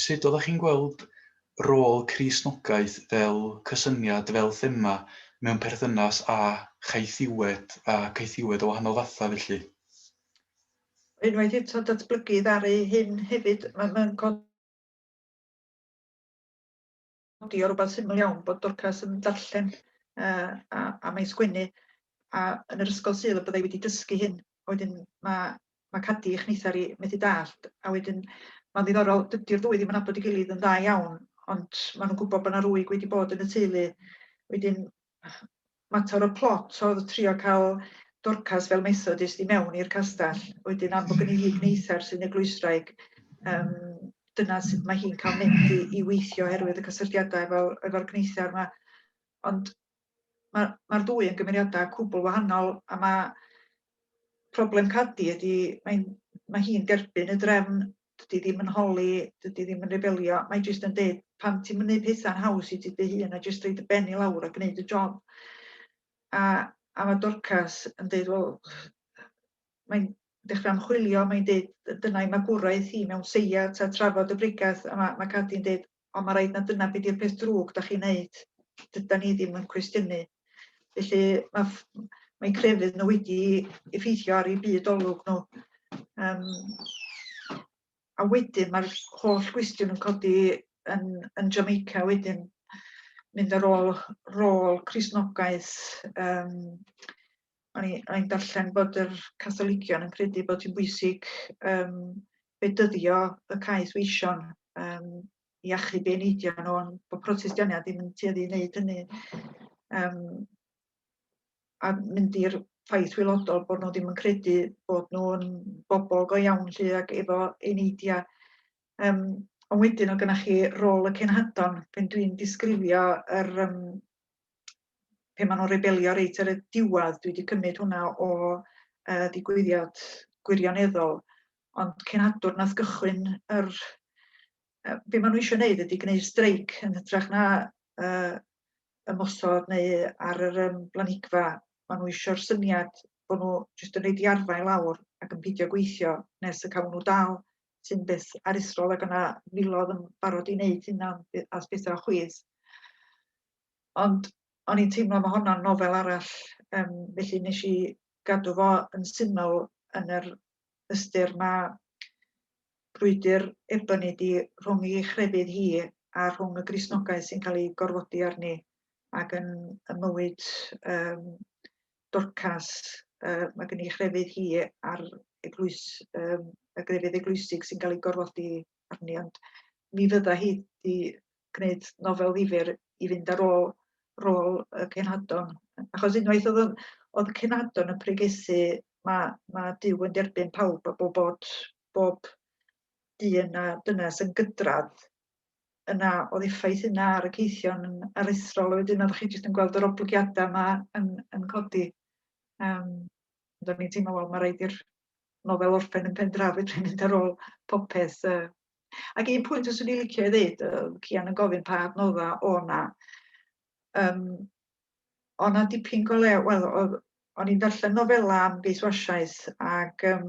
Sut oeddech chi'n gweld rôl Cristnogaeth fel cysyniad, fel thema, mewn perthynas â chaethiwed a caethiwed o wahanol fathau felly? Unwaith eto, datblygu ddaru hyn hefyd. Mae'n codi nodi o rwbath syml iawn bod Dorcas yn darllen uh, a, a mae'n sgwennu a yn yr ysgol sydd y byddai wedi dysgu hyn a wedyn mae mae cadi eich neithar i methu dallt a wedyn mae'n ddiddorol dydy'r ddwy ddim yn abod i gilydd yn dda iawn ond maen nhw'n gwybod bod yna rwyg wedi bod yn y teulu wedyn mater o plot oedd trio cael Dorcas fel Methodist i mewn i'r castell, wedyn am bod gen i hi gneithar sy'n eglwysraig, um, dyna sut mae hi'n cael mynd i, i weithio oherwydd y cysylltiadau efo, efo'r gneithar yma. Ond mae'r ma, ddwy yn gymeriadau cwbl wahanol a mae problem Cadi ydi mae'n mae hi'n derbyn y drefn, dydy ddim yn holi, dydy ddim yn rebelio, mae jyst yn deud pam ti'n mynd pethau'n haws i ti dy hun a jyst rhaid y ben i lawr a gwneud y job. A, a mae Dorcas yn deud, wel, mae'n dechrau ymchwilio, mae'n deud dyna i magwraeth hi mewn seia ta trafod y bregath a mae, mae Cadi'n deud Ond mae'n rhaid na dyna be di'r peth drwg da chi'n wneud. Dyda ni ddim yn cwestiynu. Felly mae mae crefydd nhw wedi effeithio ar ei byd olwg nhw. Um, a wedyn mae'r holl gwestiwn yn codi yn, yn Jamaica wedyn mynd ar ôl rôl Crisnogaeth. Um, o'n i'n darllen bod yr Catholigion yn credu bod hi'n bwysig um, bedyddio y caeth weision um, i achub ei neidio nhw, ond bod protest Diania ddim yn tueddu i wneud hynny. Um, a mynd i'r ffaith wylodol bod nhw ddim yn credu bod nhw'n bobl go iawn lle ac efo ei neidia. Um, ond wedyn o gynnach chi rôl y cenhadon, pan dwi'n disgrifio yr, um, pe maen nhw'n rebelio reit ar y diwedd, dwi wedi cymryd hwnna o uh, digwyddiad gwirioneddol, ond cenadwr nath gychwyn yr... Uh, be maen nhw eisiau gwneud ydy gwneud streic yn hytrach na uh, ymosod neu ar yr um, blanigfa. Maen nhw eisiau'r syniad bod nhw jyst yn rhaid i arfau lawr ac yn pidio gweithio nes y cawn nhw dal sy'n beth aruthrol ac yna filodd yn barod i wneud hynna as bethau o chwith. Ond o'n i'n teimlo ma' honno'n nofel arall yym felly wnes i gadw fo yn syml yn yr ystyr ma' brwydr Ebony 'di rhwng i chrefydd hi a rhwng y Gristnogaeth sy'n cael ei gorfodi arni ac yn y mywyd yym Dorcas yy ma' gen i chrefydd hi a'r eglwys yym y grefydd eglwysig sy'n cael ei gorfodi arni ond mi fydda hi 'di gwneud nofel ddifyr i fynd ar ôl rôl y cenadon achos unwaith oedd o'n oedd y cenadon yn pregethu mae mae Duw yn derbyn pawb a bob bod bob dyn a dynas yn gydradd yna oedd effaith yna ar y ceithion yn aruthrol a wedyn oeddech chi jyst yn gweld yr oblygiadau yma yn yn codi. Yym ond o'n i'n teimlo wel ma' raid i'r nofel orffen yn pen draw fedrwn mynd ar ôl popeth yy ac un pwynt fyswn i licio ei ddeud yy Cian yn gofyn pa adnodda o' 'na yym o' 'na dipyn go lew wel o'dd o'n i'n darllen nofela am geiswasiaeth ac yym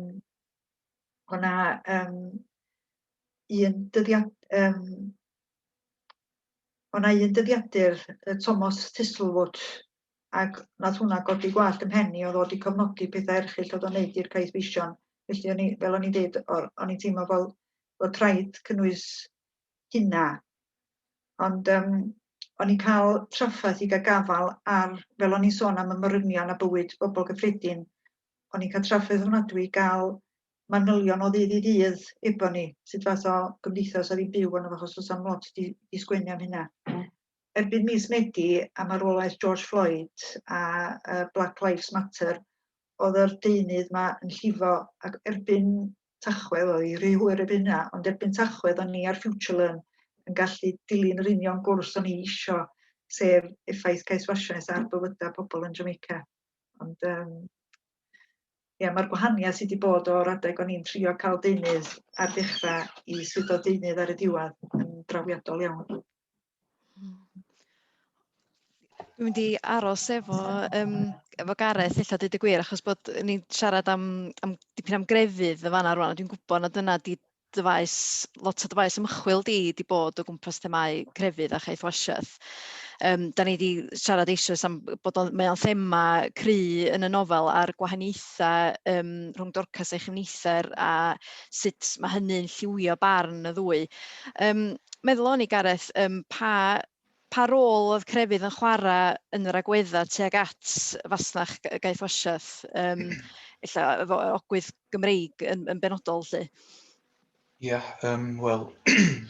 o' 'na yym un dyddiad yym o' 'na un dyddiadur yy Tomos Thistlewood ac wnaeth hwnna godi gwallt 'y mhen i o ddod i cofnodi pethau erchyll oedd o'n neud i'r Caeth Feision. Felly o'n i, fel o'n i'n deud, o- o'n i'n teimlo fel bod rhaid cynnwys hynna. Ond um, o'n i'n cael traffaeth i gael gafal ar, fel o'n i'n sôn am y morynion a bywyd bobl gyffredin, o'n i'n cael traffaeth ofnadwy i gael manylion o ddydd i ddydd efo ni, sut fath o gymdeithas oedd hi'n byw yn achos oes am lot di, di sgwennu am hynna. erbyn mis Medi a marwolaeth George Floyd a uh, Black Lives Matter, oedd yr deunydd yma yn llifo ac erbyn Tachwedd, oedd hi rhy hwyr erbyn hynna, ond erbyn Tachwedd o'n ni ar Future Learn yn gallu dilyn yr union gwrs o'n i isio, sef effaith caethwasiaeth ar bywydau pobl yn Jamaica. Ond um, Ie, mae'r gwahaniaeth sydd wedi bod o'r adeg o'n i'n trio cael deunydd ar ddechrau i swyddog deunydd ar y diwedd yn drawiadol iawn. Dwi'n mynd i aros efo yym efo Gareth ella deud y gwir achos bod ni'n siarad am am dipyn am grefydd yn fanna rŵan a dwi'n gwybod na dyna 'di dy faes lot o dy faes ymchwil di 'di bod o gwmpas themâu crefydd a chaethwasiaeth. Yym 'dan ni 'di siarad eisoes am bod o'n mae o'n thema cry' yn y nofel a'r gwahaniaethau yym rhwng Dorcas a'i chyfnither a sut ma' hynny'n lliwio barn y ddwy. Yym meddwl o'n i Gareth yym pa pa rôl oedd crefydd yn chwarae yn yr agwedda tuag at fasnach Guy Fawsiaeth yym ella efo ogwydd Gymreig yn, yn benodol lly? Ie, yeah, um, wel,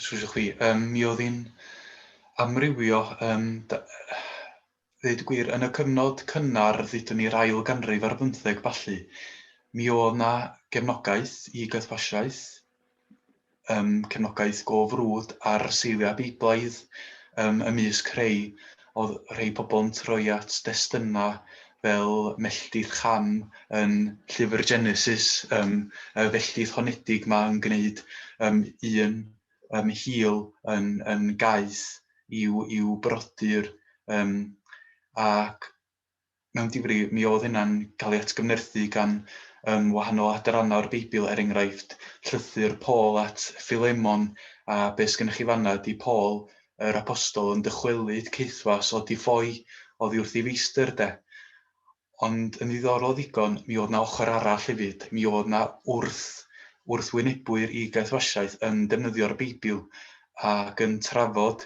sŵsio chwi, um, mi oedd hi'n amrywio, um, da, Dweud gwir, yn y cyfnod cynnar, ddudwn i'r ail ganrif ar bymtheg ballu, mi oedd 'na gefnogaeth i gytbwasiaeth, yym, cefnogaeth go frwd ar seiliau Beiblaidd, yym, ymysg rhei, oedd rhei pobl yn troi at destunau fel melltith Cham yn llyfr Genesis, yym, y felltith honedig 'ma yn gwneud, yym, un um, hil yn, yn gaeth i'w, i'w brodyr, um, ac mewn difri, mi oedd hynna'n cael ei atgyfnerthu gan um, wahanol adrannau o'r Beibl, er enghraifft, llythyr Paul at Philemon, a beth sy'n gennych chi fanna ydy Paul, yr apostol, yn dychwelyd caethwas o di ffoi oddi wrth ei feistr, de. Ond yn ddiddorol ddigon, mi oedd 'na ochr arall hefyd. Mi oedd 'na wrth- wrthwynebwyr i gaethwasiaeth yn defnyddio'r Beibl ac yn trafod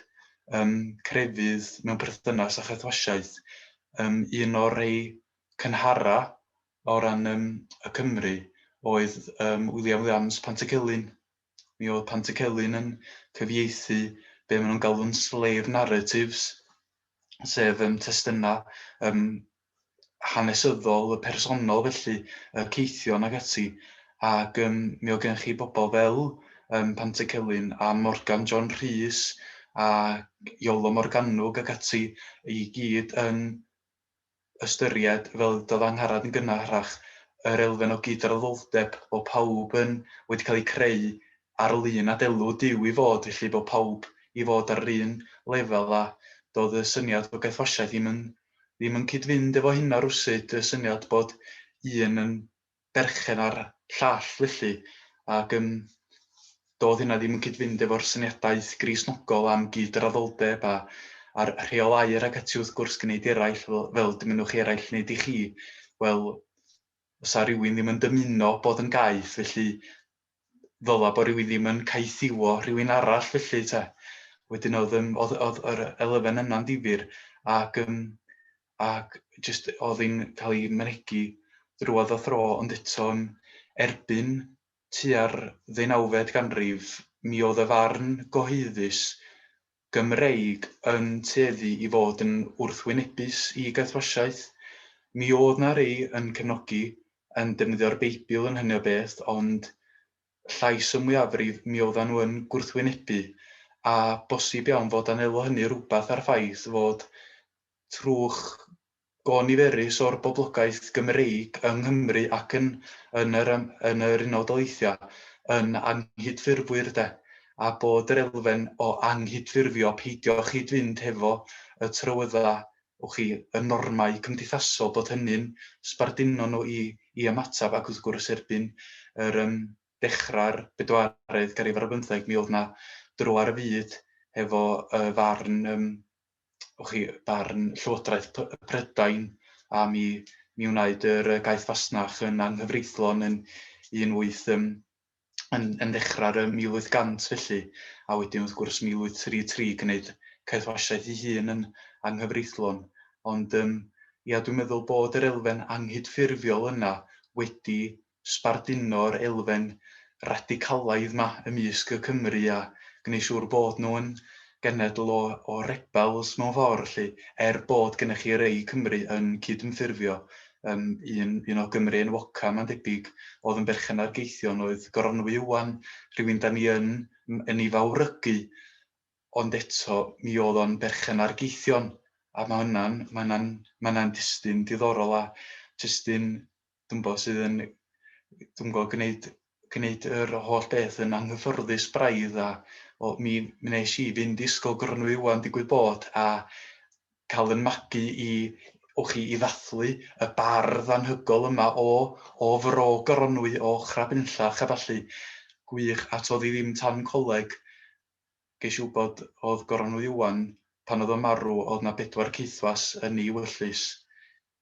yym crefydd mewn perthynas â chaethwasiaeth. Yym un o'r rhei cynhara' o ran yym y Cymry oedd yym William Williams Pantycelyn. Mi oedd Pantycelyn yn cyfieithu be maen nhw'n galw'n slave narratives, sef um, testunau um, hanesyddol, y personol felly, y ceithion ac ati. Ac um, mi oedd gen chi bobl fel um, Pantycelyn a Morgan John Rhys a Iolo Morganwg ac ati i gyd yn ystyried, fel y dywedodd Angharad yn gynharach, yr elfen o gydraddoldeb bod pawb yn wedi cael eu creu ar ol un adelw Duw i fod, felly bod pawb i fod ar yr un lefel a doedd y syniad o gaethwasiaeth ddim yn ddim yn cyd-fynd efo hynna rywsut, y syniad bod un yn berchen ar llall felly, ac yym doedd hynna ddim yn cyd-fynd efo'r syniadaeth Gristnogol am gyd-raddoldeb a a'r rheolau'r ac ati wrth gwrs gneud eraill fel fel dymunwch chi eraill wneud i chi, wel fysa rywun ddim yn dymuno bod yn gaeth felly ddyla bo rywun ddim yn caethiwo rhywun arall felly te. Wedyn oedd yym oedd oedd yr elfen yna'n ddifyr ac yym ac jyst oedd hi'n cael ei mynegi drwodd a thro ond eto yym erbyn tua'r ddeunawfed ganrif mi oedd y farn gyhoeddus Gymreig yn tueddu i fod yn wrthwynebus i Gathoosiaeth. Mi oedd 'na rei yn cefnogi, yn defnyddio'r Beibl yn hynny o beth, ond llais y mwyafrif, mi oeddan nhw yn gwrthwynebu. A bosib iawn fod anelu hynny rywbeth â'r ffaith fod trwch Go niferus o'r boblogaeth Gymreig yng Nghymru ac yn yn yr yn yr Unol Daleithiau yn anghydffurfwyr de, a bod yr elfen o anghydffurfio peidio chyd-fynd hefo y trywydda, wch chi, y normau cymdeithasol, bod hynny'n sbarduno nhw i i ymateb ac wrth gwrs erbyn yr yym dechrau'r bedwaredd ganrif ar bymtheg mi oedd 'na dro ar y fyd hefo y farn yym o chi, barn Llywodraeth Prydain am i mi wneud yr gaeth fasnach yn anghyfreithlon yn 18 yn yn yn ddechrau'r 1800 felly, a wedyn wrth gwrs 1833 gwneud caethwasiaeth ei hun yn anghyfreithlon. Ond um, ia, dwi'n meddwl bod yr elfen anghydffurfiol yna wedi sbarduno'r elfen radicalaidd 'ma ymysg y Cymry a gwneu' siŵr bod nhw'n genedl o o rebels mewn ffordd 'lly, er bod gennych chi rei Cymry yn cydymffurfio, yym un un o Gymry enwoca' mae'n debyg o'dd yn berchen ar Geithion oedd Goronwy Iwan, rhywun 'dan ni yn yn ei fawrygu, ond eto mi o'dd o'n berchen ar Geithion, a ma' hwnna'n ma' hwnna'n ma' hwnna'n destun diddorol a testun dwi'm bo sydd yn dwi'm gwbo gneud gneud yr holl beth yn anghyffyrddus braidd a o mi mi nesh i fynd i ysgol Gronwy Iwan digwydd bod a ca'l yn magu i o chi i ddathlu y bardd anhygol yma o o fro Goronwy o Ochrau Bynllach a ballu. Gwych a t'od i ddim tan coleg gesh i wbod o'dd Goronwy Iwan pan o'dd o'n marw o'dd 'na bedwar caethwas yn ei wyllys.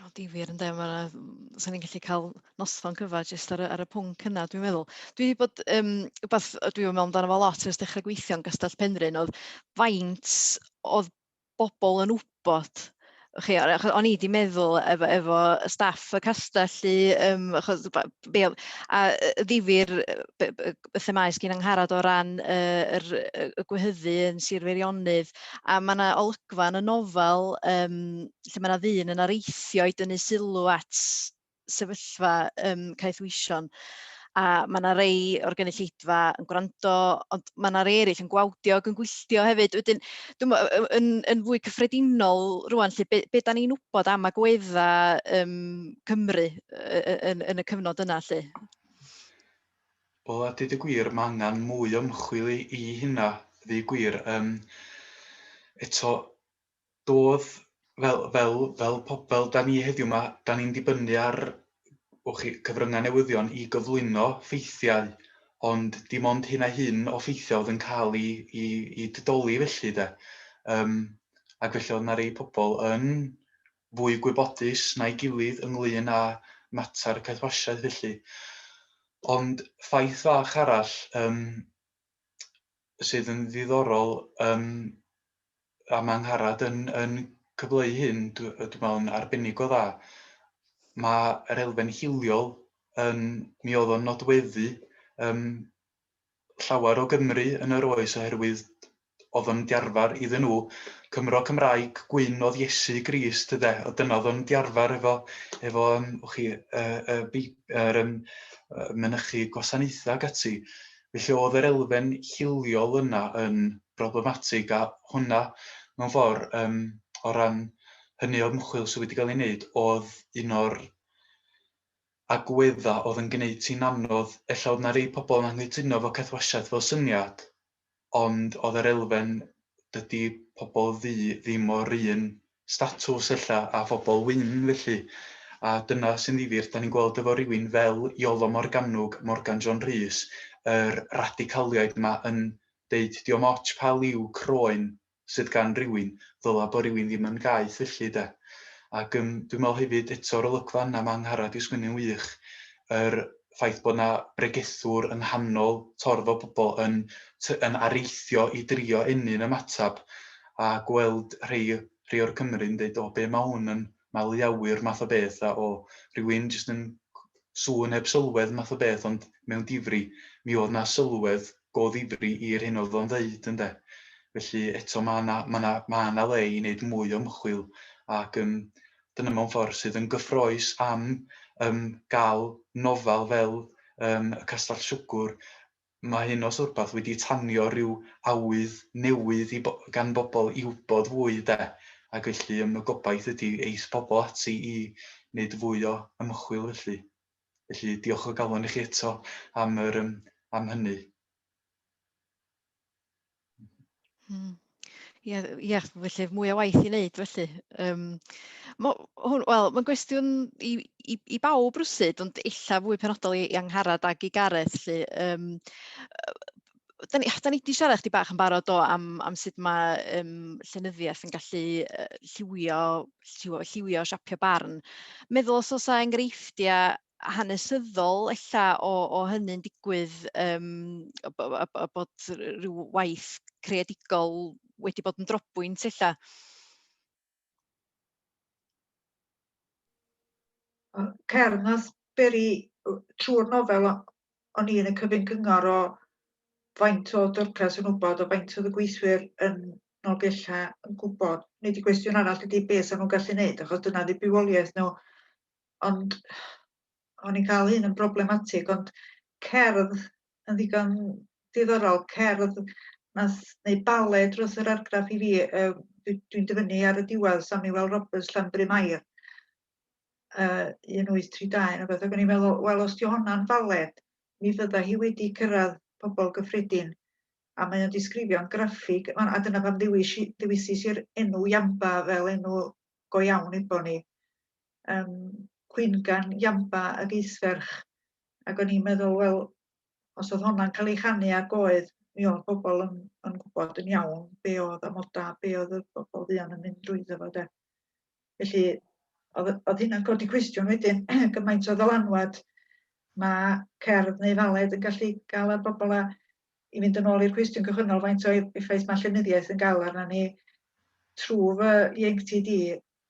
O, difyr ynde, ma' 'na... mm, 'sen ni'n gallu cael noson cyfa jyst ar y ar y pwnc yna dwi'n meddwl. Dwi 'di bod yym wbeth yy dwi 'di meddwl amdano fo lot ers dechrau gweithio yn Gastell Penrhyn oedd faint oedd bobl yn wybod o'ch chi, o- achos o'n i 'di meddwl efo efo staff y castell i yym achos b- be oedd a yy ddifyr yy be- be- y themâu sy'n angharad o ran y, yr, y gwehyddu yn Sir Feirionydd, a mae yna olygfa yn y nofel um, lle mae yna ddyn yn areithio i dynnu sylw at sefyllfa um, caethwysion a mae yna rei o'r gynulleidfa yn gwrando, ond mae yna rei eraill yn gwawdio ac yn gwylltio hefyd. Wedyn, dwi'n yn, yn fwy cyffredinol rwan, lle, be, be da ni'n wybod am agwedda um, Cymru yn, yn y cyfnod yna, lle? Wel a deud y gwir ma' angan mwy o ymchwil i i hynna ddeu gwir yym eto dodd fel fel fel pob fel 'dan ni heddiw 'ma 'dan ni'n dibynnu ar wch chi cyfrynga' newyddion i gyflwyno ffeithiau ond dim ond hyn a hyn o ffeithia' oedd yn ca'l 'u 'u 'u didoli felly 'de yym ac felly o'dd 'na rei pobol yn fwy gwybodus na'i gilydd ynglŷn â mater caethwasiaeth felly. Ond ffaith fach arall yym sydd yn ddiddorol yym a mae Angharad yn yn cyfleu hyn dw- yy dwi'n meddwl yn arbennig o dda, mae'r elfen hiliol yn... mi oedd o'n nodweddu yym llawer o Gymry yn yr oes oherwydd oedd o'n diarfar iddyn nhw Cymro Cymraeg gwyn oedd Iesu Grist ynde oedd dyna oedd o'n diarfar efo efo yym o chi yy y Beib- yr yym yy mynychu gwasanaethau ac ati felly oedd yr elfen hiliol yna yn broblematig a hwnna mewn ffordd yym o ran hynny o ymchwil sydd wedi cael ei wneud oedd un o'r agwedda oedd yn gneud ti'n anodd, ella oedd 'na rei pobl yn anghytuno efo caethwasiaeth fel syniad, ond oedd yr elfen 'dydi pobl ddu ddim o'r un statws ella a phobl wyn felly, a dyna sy'n ddifyr, 'dan ni'n gweld efo rywun fel Iolo Morgannwg, Morgan John Rhys, yr radicaliaid 'ma yn deud 'di o'm otsh pa liw croen sydd gan rywun, ddyla bo rywun ddim yn gaeth felly de. Ac yym dwi'n meddwl hefyd eto yr olygfa yna ma' Angharad di sgwennu'n wych, yr ffaith bod na bregethwr yng nghanol torf o bobl yn t- yn areithio i drio ennyn ymatab a gweld rhei rhei o'r Cymry'n deud o be ma hwn yn maliawyr math o beth a o rywun jyst yn sŵn heb sylwedd math o beth ond mewn difri mi oedd na sylwedd go ddifri i'r hyn oedd o'n ddeud ynde? Felly eto ma' na ma' na ma' na le i neud mwy o ymchwil ac yym dyna mewn ffordd sydd yn gyffroes am yym ga'l nofel fel yym Y Castell Siwgwr Mae hyn os rwbath wedi tanio rhyw awydd newydd i gan bobl i wybod fwy de, ac felly ym y gobaith ydi eith pobl ati i neud fwy o ymchwil felly. Felly diolch o galon i chi eto am yr yym am hynny. Hmm. Ie, ie, felly mwy o waith i wneud felly. Um, Wel, mae'n gwestiwn i, i, i bawb rwsyd, ond illa fwy penodol i, i Angharad ac i Gareth. Lly. Um, da ni, da ni wedi siarad chdi bach yn barod o am, am sut mae um, llenyddiaeth yn gallu lliwio, lliwio, lliwio siapio barn. Meddwl os oes enghreifftiau hanesyddol ella o, o hynny'n digwydd um, a, a, a bod rhyw waith creadigol wedi bod yn drobwynt ella. Cer, nath beri trwy'r nofel o'n i'n y cyfyn cyngor o faint o dyrcas yn wybod o faint oedd y gweithwyr yn Nolgella yn gwybod. Nid y gwestiwn arall ydy beth sy'n nhw'n gallu wneud, achos dyna ddibywioliaeth nhw. ond o'n i'n cael un yn broblematig, ond cerdd yn ddigon diddorol, cerdd nath neu bale drws yr argraff i fi, uh, dwi'n dyfynnu ar y diwedd Samuel Roberts Llanbrym Air, uh, 1832 neu beth, ac o'n i'n meddwl, wel os di honna'n baled, mi fydda hi wedi cyrraedd pobl gyffredin a mae o'n disgrifio'n graffig a dyna pam ddewisis i'r enw Iamba fel enw go iawn efo ni um, cwyngan Iamba ag Eithferch, ac o'n i'n meddwl, wel, os oedd hwnna'n cael ei chanu ar goed, mi oedd pobl yn, yn gwybod yn iawn be oedd amodau, be oedd y bobl fuon yn mynd drwy ddefod de. Felly, oedd, oedd hynna'n codi cwestiwn wedyn, gymaint o ddylanwad mae cerdd neu faled yn gallu gael ar bobl a i fynd yn ôl i'r cwestiwn cychwynnol faint o effaith mae llenyddiaeth yn gael arna ni trwy fy ieuenctid i,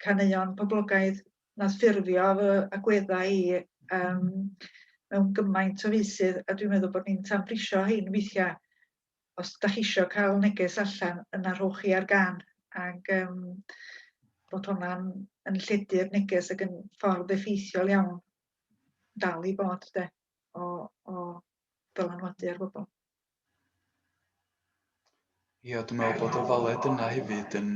caneuon poblogaidd nath ffurfio fy agweddau i yym mewn gymaint o feysydd a dwi'n meddwl bod ni'n tanbrisio hein weithia'. Os dach chi isio ca'l neges allan yna rhowch chi ar gân ag yym bod honna'n yn lledu'r neges ag yn ffordd effeithiol iawn dal i bod 'de o o dylanwadu ar bobl. Ia, dwi'n meddwl bod y ddolet yna hefyd yn,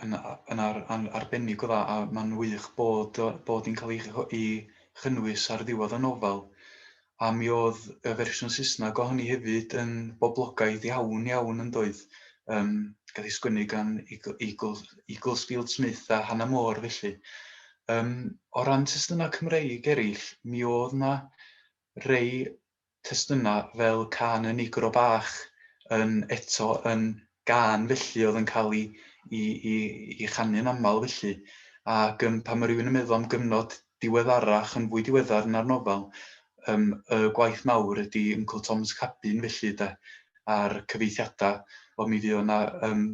yn, yn ar, an, arbennig o dda, a mae'n wych bod, bod hi'n cael ei, chynnwys ar ddiwedd y nofel. A mi oedd y fersiwn Saesneg o hynny hefyd yn boblogaidd iawn iawn yn doedd. Um, gael ei sgwennu gan Eagles, Eagles Field Smith a Hannah Moore felly. Um, o ran testunau Cymreig eraill, mi oedd yna Rhei testunau fel cân y Nigro Bach yn eto yn gân felly oedd yn cael i i i i chanu'n aml felly ac yym pan mae rhywun yn meddwl am gyfnod diweddarach yn fwy diweddar na'r nofel yym y gwaith mawr ydi Yncl Tom's Cabin felly de a'r cyfeithiadau wel mi fuodd 'na yym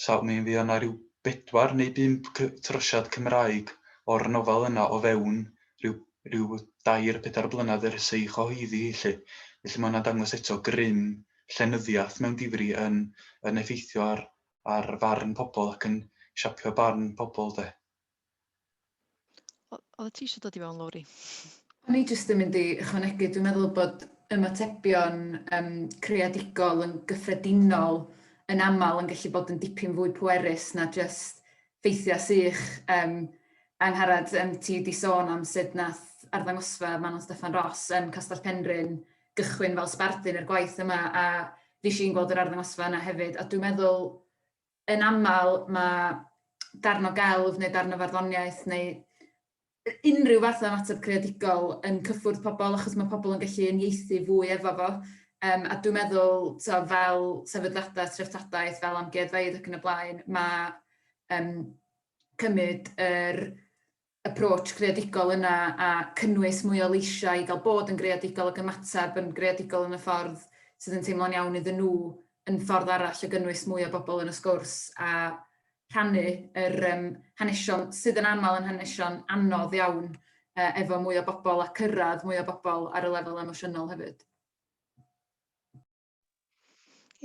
Saf mi fuodd 'na ryw bedwar neu bump cy- trosiad Cymraeg o'r nofel yna o fewn ryw ryw dair pedair blynedd ers ei chyhoeddi hi 'lly. Felly ma' hwnna'n dangos eto grym llenyddiaeth mewn difri yn yn effeithio ar ar farn pobl ac yn siapio barn pobl 'de. Oedd ti eisiau dod i fewn, Lowri? O'n i jyst yn mynd i ychwanegu, dwi'n meddwl bod ymatebion um, creadigol yn gyffredinol yn aml yn gallu bod yn dipyn fwy pwerus na jyst ffeithiau sych. Um, Angharad, um, ti wedi sôn am sut nath arddangosfa Manon Steffan Ross yn Castell Penrhyn gychwyn fel sbardun i'r gwaith yma a fi eisiau gweld yr arddangosfa yna hefyd a dwi'n meddwl yn aml mae darn o gelf neu darn o farddoniaeth neu unrhyw fath o ymateb creadigol yn cyffwrdd pobl achos mae pobl yn gallu unieithu fwy efo fo. Um, a dwi'n meddwl, so, fel sefydliadau, treftadaeth, fel amgueddfeydd ac yn y blaen, mae um, cymryd yr er approach greadigol yna a cynnwys mwy o leisiau i gael bod yn greadigol ac ymateb yn greadigol yn y ffordd sydd yn teimlo'n iawn iddyn nhw yn ffordd arall o gynnwys mwy o bobl yn y sgwrs a rhannu yr um, hanesion sydd yn aml yn hanesion anodd iawn uh, efo mwy o bobl a cyrraedd mwy o bobl ar y lefel emosiynol hefyd.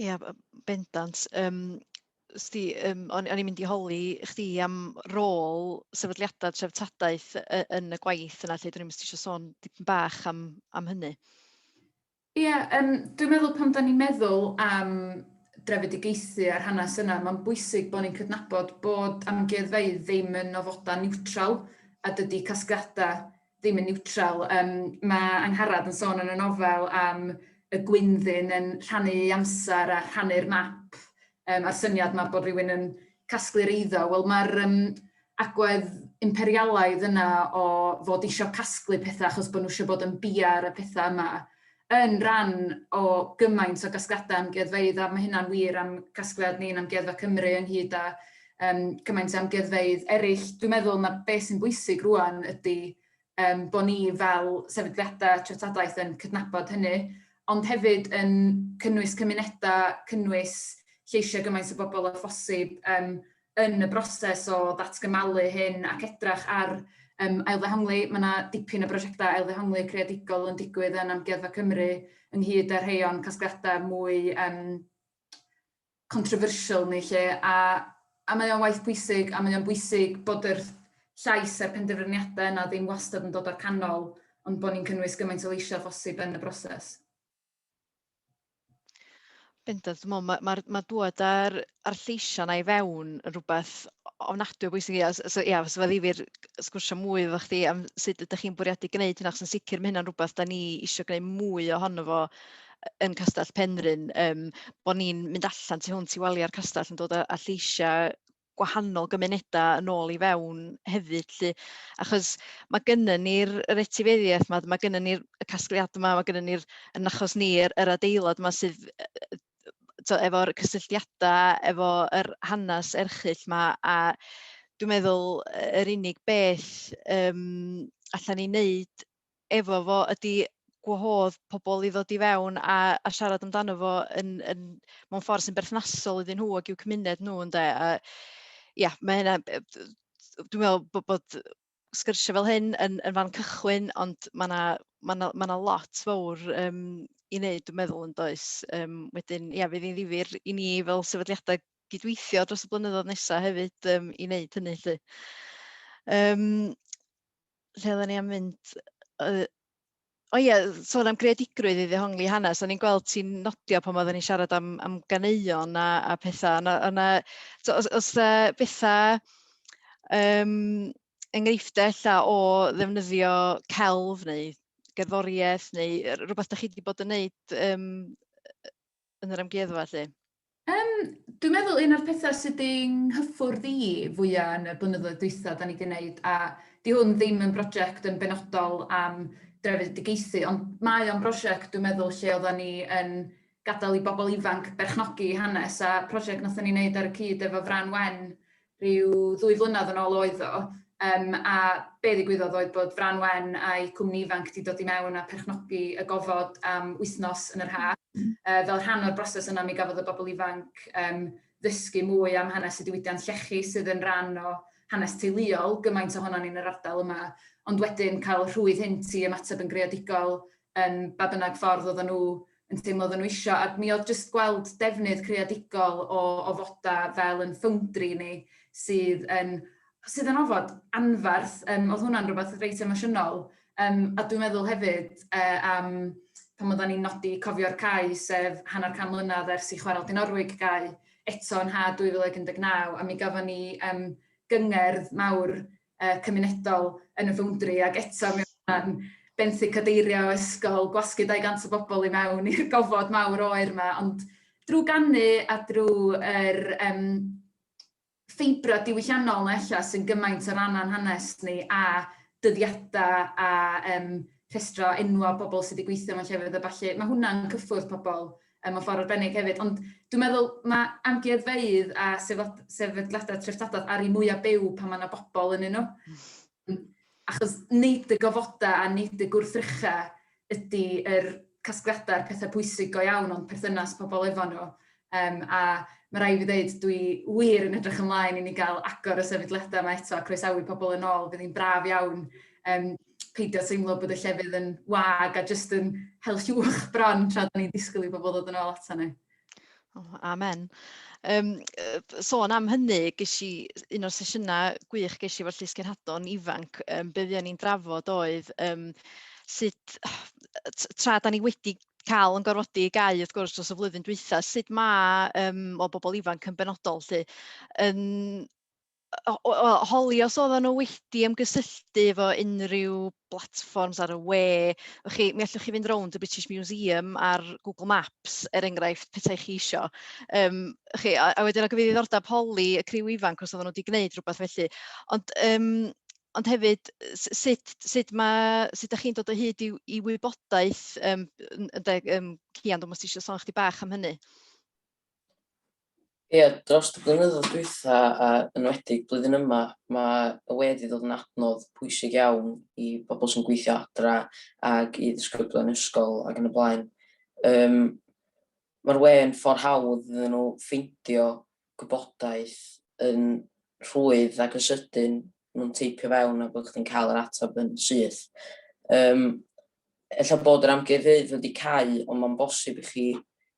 Ia, b- b- bendant. Yym, sdi, yym, o'n o'n i'n mynd i holi chdi am rôl sefydliadau treftadaeth y- yn y gwaith yna, lle dyn ni'n mystisio sôn dipyn bach am, am hynny. Ie, um, dwi'n meddwl pan da ni'n meddwl am drefedigaethu a'r hanes yna, mae'n bwysig bod ni'n cydnabod bod amgueddfeydd ddim yn ofodau niwtral a dydy casgliadau ddim yn niwtral. Um, mae Angharad yn sôn yn y nofel am y gwynddyn yn rhannu amser a rhannu'r map um, a'r syniad mae bod rhywun yn casglu'r eiddo. Wel, mae'r um, agwedd imperialaidd yna o fod eisiau casglu pethau achos bod nhw eisiau bod yn biar y pethau yma. yn rhan o gymaint o gasgliadau amgueddfeydd, a mae hynna'n wir am gasgliad ni'n Amgueddfa Cymru ynghyd â um, cymaint o amgueddfeydd eraill. Dwi'n meddwl na beth sy'n bwysig rwan ydy um, bod ni fel sefydliadau treftadaeth yn cydnabod hynny, ond hefyd yn cynnwys cymunedau, cynnwys lleisiau gymaint o bobl o phosib, um, yn y broses o ddatgymalu hyn ac edrach ar um, ailddehongli. Mae yna dipyn o brosiectau ailddehongli creadigol yn digwydd yn Amgueddfa Cymru ynghyd â rhai o'n casgliadau mwy um, controversial ni lle a, a mae o'n waith bwysig a mae o'n bwysig bod yr llais a'r penderfyniadau yna ddim wastad yn dod o'r canol ond bod ni'n cynnwys gymaint o leisiau phosib yn y broses. Bendant, dwi'n meddwl, mae ma, ma dŵad a'r, ar lleisiau yna i fewn yn rhywbeth ofnadwy o bwysig. Ia, so, ia, so fe ddifir sgwrsio mwy efo chdi am sut ydych chi'n bwriadu gwneud hynna, achos yn sicr mae hynna'n rhywbeth da ni eisiau gwneud mwy ohono fo yn Castell Penrhyn, um, bod ni'n mynd allan tu hwnt i waliau'r castell yn dod â, â lleisiau gwahanol gymunedau yn ôl i fewn hefyd 'lly. Achos mae gennym ni'r yr etifeddiaeth 'ma, mae gennym ni'r y casgliadau 'ma, mae gennym ni'r yn achos ni yr yr adeilad 'ma sydd yy efo'r cysylltiadau efo yr hanes erchyll 'ma a dwi'n meddwl yr unig beth yym allan ni wneud efo fo ydi gwahodd pobl i ddod i fewn a a siarad amdano fo yn yn mewn ffor' sy'n berthnasol iddyn nhw ag i'w cymuned nhw ynde a ia ma' hynna yy dwi'n meddwl bo' bod sgyrsia' fel hyn yn yn fan cychwyn ond ma' 'na ma' 'na ma' 'na lot fowr yym i neud dwi'n meddwl yn does? Yym wedyn ia fydd hi'n ddifyr i ni fel sefydliadau gydweithio dros y blynyddoedd nesa' hefyd yym i neud hynny 'lly. Yym. lle oedden ni am mynd? Yy, o ie, sôn am greadigrwydd i ddehongli hanes, o'n i'n gweld ti'n nodio pan oedden ni'n siarad am, am ganeuon a, a pethau, yna, yna so, os, os da bethau um, enghreiffdau ella o ddefnyddio celf neu gerddoriaeth neu rhywbeth da chi wedi bod yn neud um, yn yr amgueddfa 'lly? Yym, dwi'n meddwl un o'r petha sydd 'di 'nghyffwrdd i fwya yn y blynyddoedd dwytha 'dan ni 'di neud, a 'di hwn ddim yn broject yn benodol am drefedigaethu, ond mae o'n brosiect dwi'n meddwl lle oddan ni yn gadel i bobl ifanc berchnogi 'u hanes, a project nathon ni neud ar y cyd efo Frân Wen rhyw ddwy flynedd yn ôl oedd o, um, a be ddigwyddodd oedd bod Fran Wen a'i cwmni ifanc wedi dod i mewn a perchnogi y gofod am wythnos yn yr ha. Uh, fel rhan o'r broses yna, mi gafodd y bobl ifanc um, ddysgu mwy am hanes y diwydiant llechi sydd yn rhan o hanes teuluol, gymaint ohono ni'n yr ardal yma, ond wedyn cael rhwydd hyn i ymateb yn greadigol yn ba bynnag ffordd oedden nhw yn teimlo oedden nhw isio, a mi oedd jyst gweld defnydd creadigol o o foda fel yn ffowndri ni sydd yn sydd yn ofod anferth, um, oedd hwnna'n rhywbeth reit emosiynol. Um, a dwi'n meddwl hefyd uh, am pan oedden ni'n nodi cofio'r cae, sef hanner can mlynedd ers i chwarael Dinorwig gae eto yn ha 2019, a mi gafon ni um, gyngerdd mawr uh, cymunedol yn y foundry ac eto mi o'n benthyg cadeirio ysgol, gwasgu 200 o bobl i mewn i'r gofod mawr oer yma, ond drwy gannu a drwy yr um, ffeibra diwylliannol na ella sy'n gymaint o rannan hanes ni a dyddiadau a um, rhestro enwau pobl sydd wedi gweithio mewn llefydd a falle, mae hwnna'n cyffwrdd pobl mewn ffordd arbennig hefyd. Ond dwi'n meddwl mae amgueddfeydd a sefydliadau treftadaeth ar ei mwyaf byw pan mae yna bobl yn nhw. Hmm. Achos nid y gofodau a nid y gwrthrychau ydy yr casgliadau'r pethau pwysig go iawn ond perthynas pobl efo nhw. Um, a mae rai fi ddeud, dwi wir yn edrych ymlaen i ni gael agor y sefydliadau yma eto a croesawu pobl yn ôl. Bydd hi'n braf iawn um, peidio teimlo bod y llefydd yn wag a jyst yn hel llwch bron tra da ni'n disgwyl i bobl ddod yn ôl ato ni. Oh, amen. Um, sôn am hynny, ges i un o'r sesiynau gwych ges i efo'r Llys Cenhadon ifanc, um, be fuon ni'n drafod oedd um, sut, tra da ni wedi cael yn gorfodi i gau wrth gwrs dros y flwyddyn dwytha, sut mae um, o bobl ifanc yn benodol lle, yn holi os oedden nhw wedi ymgysylltu efo unrhyw blatfforms ar y we. O'ch chi, mi allwch chi fynd rownd y British Museum ar Google Maps, er enghraifft, pethau chi isio. Um, chi, a, a wedyn o gyfeirio ddordeb holi y criw ifanc os oedden nhw wedi gwneud rhywbeth felly. Ond, um, ond hefyd, sut, sut, ma, sut ydych chi'n dod o hyd i, i wybodaeth, um, yn, yn, um, Cian, dwi'n meddwl eisiau sôn chdi bach am hynny. Ie, dros y blynyddoedd dwytha a yn enwedig blwyddyn yma ma' y we 'di dod yn adnodd pwysig iawn i bobol sy'n gweithio adra ag i ddisgyblion ysgol ag yn y blaen. Yym ma'r we yn ffor hawdd iddyn nhw ffeindio gwybodaeth yn rhwydd ac yn sydyn nhw'n teipio fewn a bod chdi'n cael yr atab yn syth. Yym ella bod yr amgueddfeydd wedi cau ond ma'n bosib i chi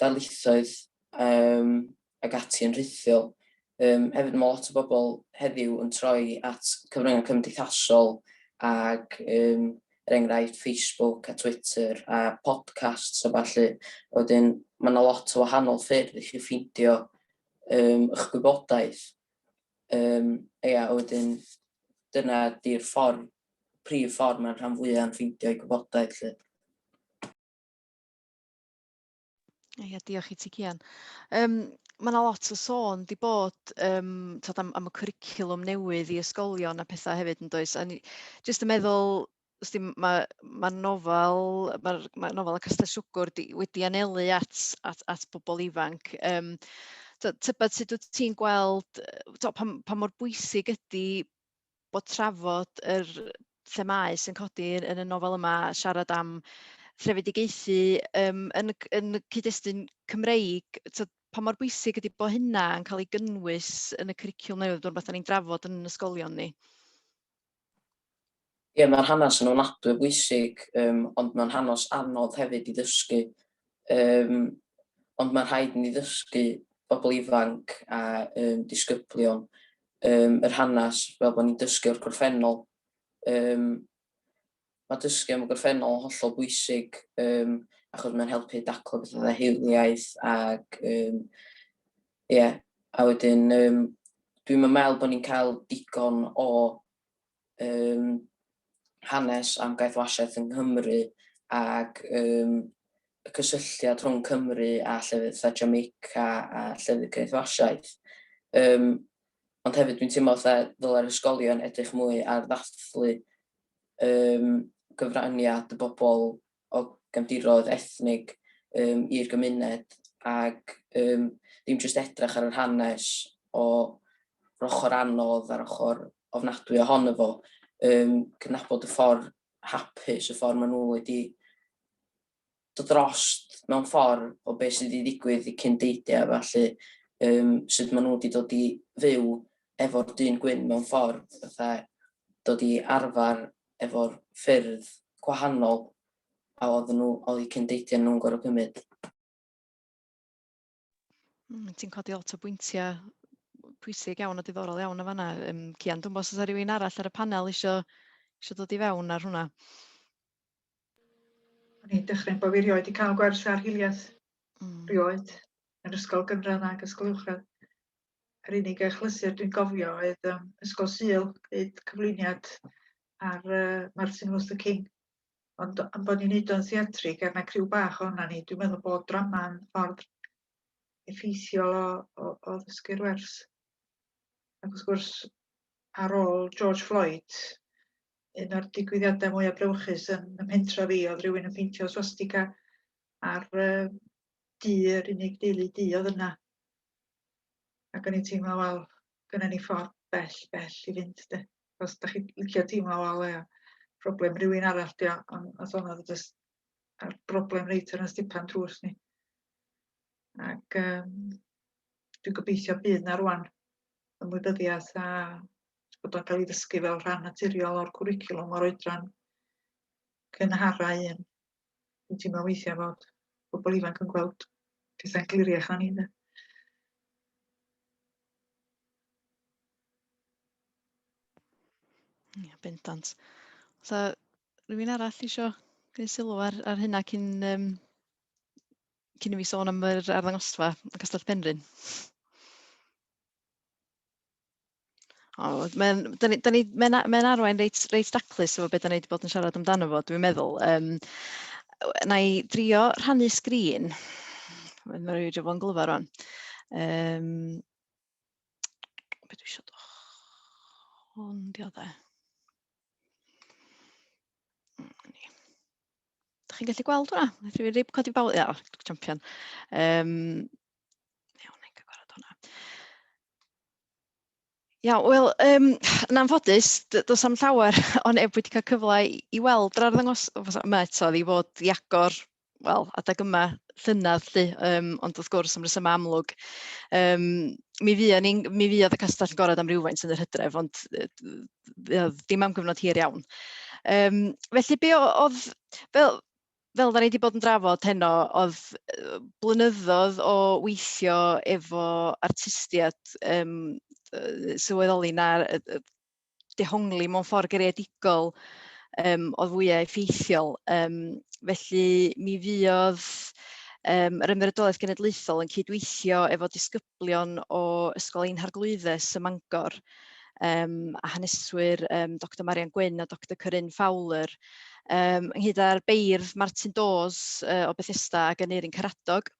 darlithoedd yym ac ati yn rhithiol. Yym hefyd ma' lot o bobl heddiw yn troi at cyfryngau cymdeithasol ac yym er enghraifft Facebook a Twitter a podcasts a ballu. A wedyn ma' 'na lot o wahanol ffyrdd i chi ffeindio yym y'ch gwybodaeth. Yym ia a wedyn dyna 'di'r ffor prif ffor ma'r rhan fwya yn ffeindio 'u gwybodaeth 'lly. Ia, diolch i ti, Cian. Um, mae yna lot o sôn di bod um, tod, am, am y cwricwlwm newydd i ysgolion a pethau hefyd yn does. A ni, just yn meddwl, os di, mae ma nofel, mae'r ma nofel y Castell Siwgwr di, wedi anelu at, at, at bobl ifanc. Um, tybed sut wyt ti'n gweld, to, pa, pa mor bwysig ydy bod trafod yr themâu sy'n codi yn y nofel yma, siarad am threfedigaethu um, yn, yn y cyd-destun Cymreig, so, pa mor bwysig ydy bod hynna yn cael ei gynnwys yn y cwricwlwm newydd, dwi'n rhywbeth ni'n drafod yn ysgolion ni? Ie, mae'r hanes yn ofnadwy bwysig, um, ond mae'n hanes anodd hefyd i ddysgu. Um, ond mae'n rhaid ni ddysgu bobl ifanc a um, disgyblion um, yr hanes fel bod ni'n dysgu o'r gorffennol. Um, mae dysgu am y gorffennol yn hollol bwysig um, achos mae'n helpu daclo beth oedd hiliaeth ac um, yeah. a wedyn um, dwi'n meddwl bod ni'n cael digon o um, hanes am gaethwasiaeth yng Nghymru ac um, y cysylltiad rhwng Cymru a llefydd fatha Jamaica a llefydd caethwasiaeth. Um, ond hefyd dwi'n teimlo fatha ddyle'r ysgolion edrych mwy ar ddathlu um, gyfraniad y bobl o gefndiroedd ethnig yym i'r gymuned ac yym ddim jyst edrych ar yr hanes o yr ochr anodd a'r ochr ofnadwy ohono fo, yym cydnabod y ffordd hapus, y ffordd maen nhw wedi dod drost mewn ffordd o beth sydd wedi digwydd i cyn deidiau a falle, um, sut maen nhw wedi dod i fyw efo'r dyn gwyn mewn ffordd, fatha dod i arfer efo'r ffyrdd gwahanol a oedden nhw, oedd eu cyn-deithiau nhw'n gorfod cymryd. Mm, ti'n codi lot o bwyntiau pwysig iawn a diddorol iawn o fanna. Um, Cian, dwi'n bod os rhywun arall ar y panel eisiau, eisiau dod i fewn ar hwnna. O'n i'n dechrau bod fi rioed i cael gwers ar hiliaeth. Mm. Rioed. Yn ysgol gynradd ac ysgol uwchradd. Yr unig achlysur dwi'n gofio oedd yym Ysgol Sul, gwneud cyflwyniad ar yy Martin Luther King. Ond am bod ni'n neud o'n theatrig a 'na criw bach ohonan ni, dwi'n meddwl bod drama'n ffordd effeithiol o o o ddysgu'r wers. Ac wrth gwrs, ar ôl George Floyd, un o'r digwyddiadau mwyaf brawychus yn ym mhentra fi oedd rhywun yn peintio swastika ar yy du yr unig deulu du oedd yna. ac o'n i'n teimlo wel gynna ni ffordd bell bell i fynd de os da chi'n licio teimlo wel ia problem rhywun arall dio ond os o'n oedd jyst a'r broblem reit ar y stipan drws ni ac um, dwi'n gobeithio bydd na rwan ymwybyddiaeth a bod o'n cael ei ddysgu fel rhan naturiol o'r cwricwlwm o'r oedran cynharau un. Dwi'n teimlo weithiau fod pobl ifanc yn gweld pethau'n gliriach na ni de. Ia, bendant. Sa rhywun arall eisiau gwneud sylw ar, ar hynna cyn, um, cyn i mi sôn am yr arddangosfa yn Castell Penrhyn? O, mae'n, da ni, da ni, mae'n, a- mae'n arwain reit, reit daclus efo beth da ni wedi bod yn siarad amdano fo, dwi'n meddwl. Um, na i drio rhannu sgrin. Mae'n rhaid i fo'n glyfa rwan. Um, beth dwi eisiau dod? Hwn di o dde. Da chi'n gallu gweld hwnna? Wnaeth rhywun rib codi bawl? Ia, o, champion. Um, iawn, i'n cyfarfod hwnna. Iawn, wel, um, yn anffodus, does am llawer o neb wedi cael cyfle i, i weld yr arddangos yma eto, i fod i agor, wel, adeg yma llynedd, lly, um, ond wrth gwrs am resymau amlwg. Um, mi, fi, ni, mi fi oedd y castell yn gorau am rhywfaint yn yr hydref, ond uh, dim am gyfnod hir iawn. Um, felly, be oedd, fel, fel da ni wedi bod yn drafod heno, oedd blynyddoedd o weithio efo artistiaid um, sylweddoli na dehongli mewn ffordd gereadigol um, oedd fwyau effeithiol. Um, felly mi fydd um, yr Ymddiriedolaeth Genedlaethol yn cydweithio efo disgyblion disgyblion o Ysgol Ein Harglwyddes ym Mangor yym a haneswyr yym Doctor Marian Gwyn a Doctor Corinne Fowler yym ynghyd â'r beirdd Martin Dawes yy o Bethesda ac Aneurin Caradog.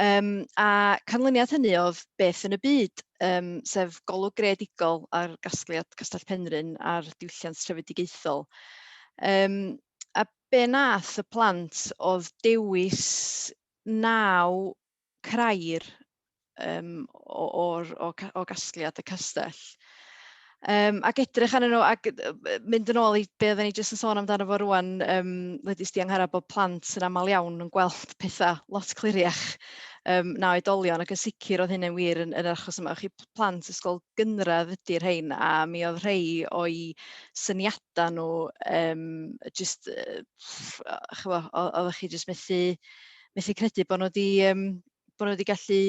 Um, a canlyniad hynny oedd beth yn y byd, um, sef golwg greadigol ar gasgliad Castell Penrhyn a'r diwylliant trefedigaethol. Um, a be nath y plant oedd dewis naw crair yym o o'r o ca- o gasgliad y castell. Um, ac edrych arnyn nhw, ac mynd yn ôl i be oedden ni jyst yn sôn amdano fo rwan, um, Lydis di Angharad, bod plant yn aml iawn yn gweld pethau lot cliriach um, na oedolion, ac yn sicr oedd hynny'n wir yn, yn yr achos yma. Chi plant ysgol gynradd ydy'r rhain, a mi oedd rhai o'i syniadau nhw um, jyst, uh, chyfo, oeddech chi jyst methu methu credu bod nhw wedi um, bod nhw wedi gallu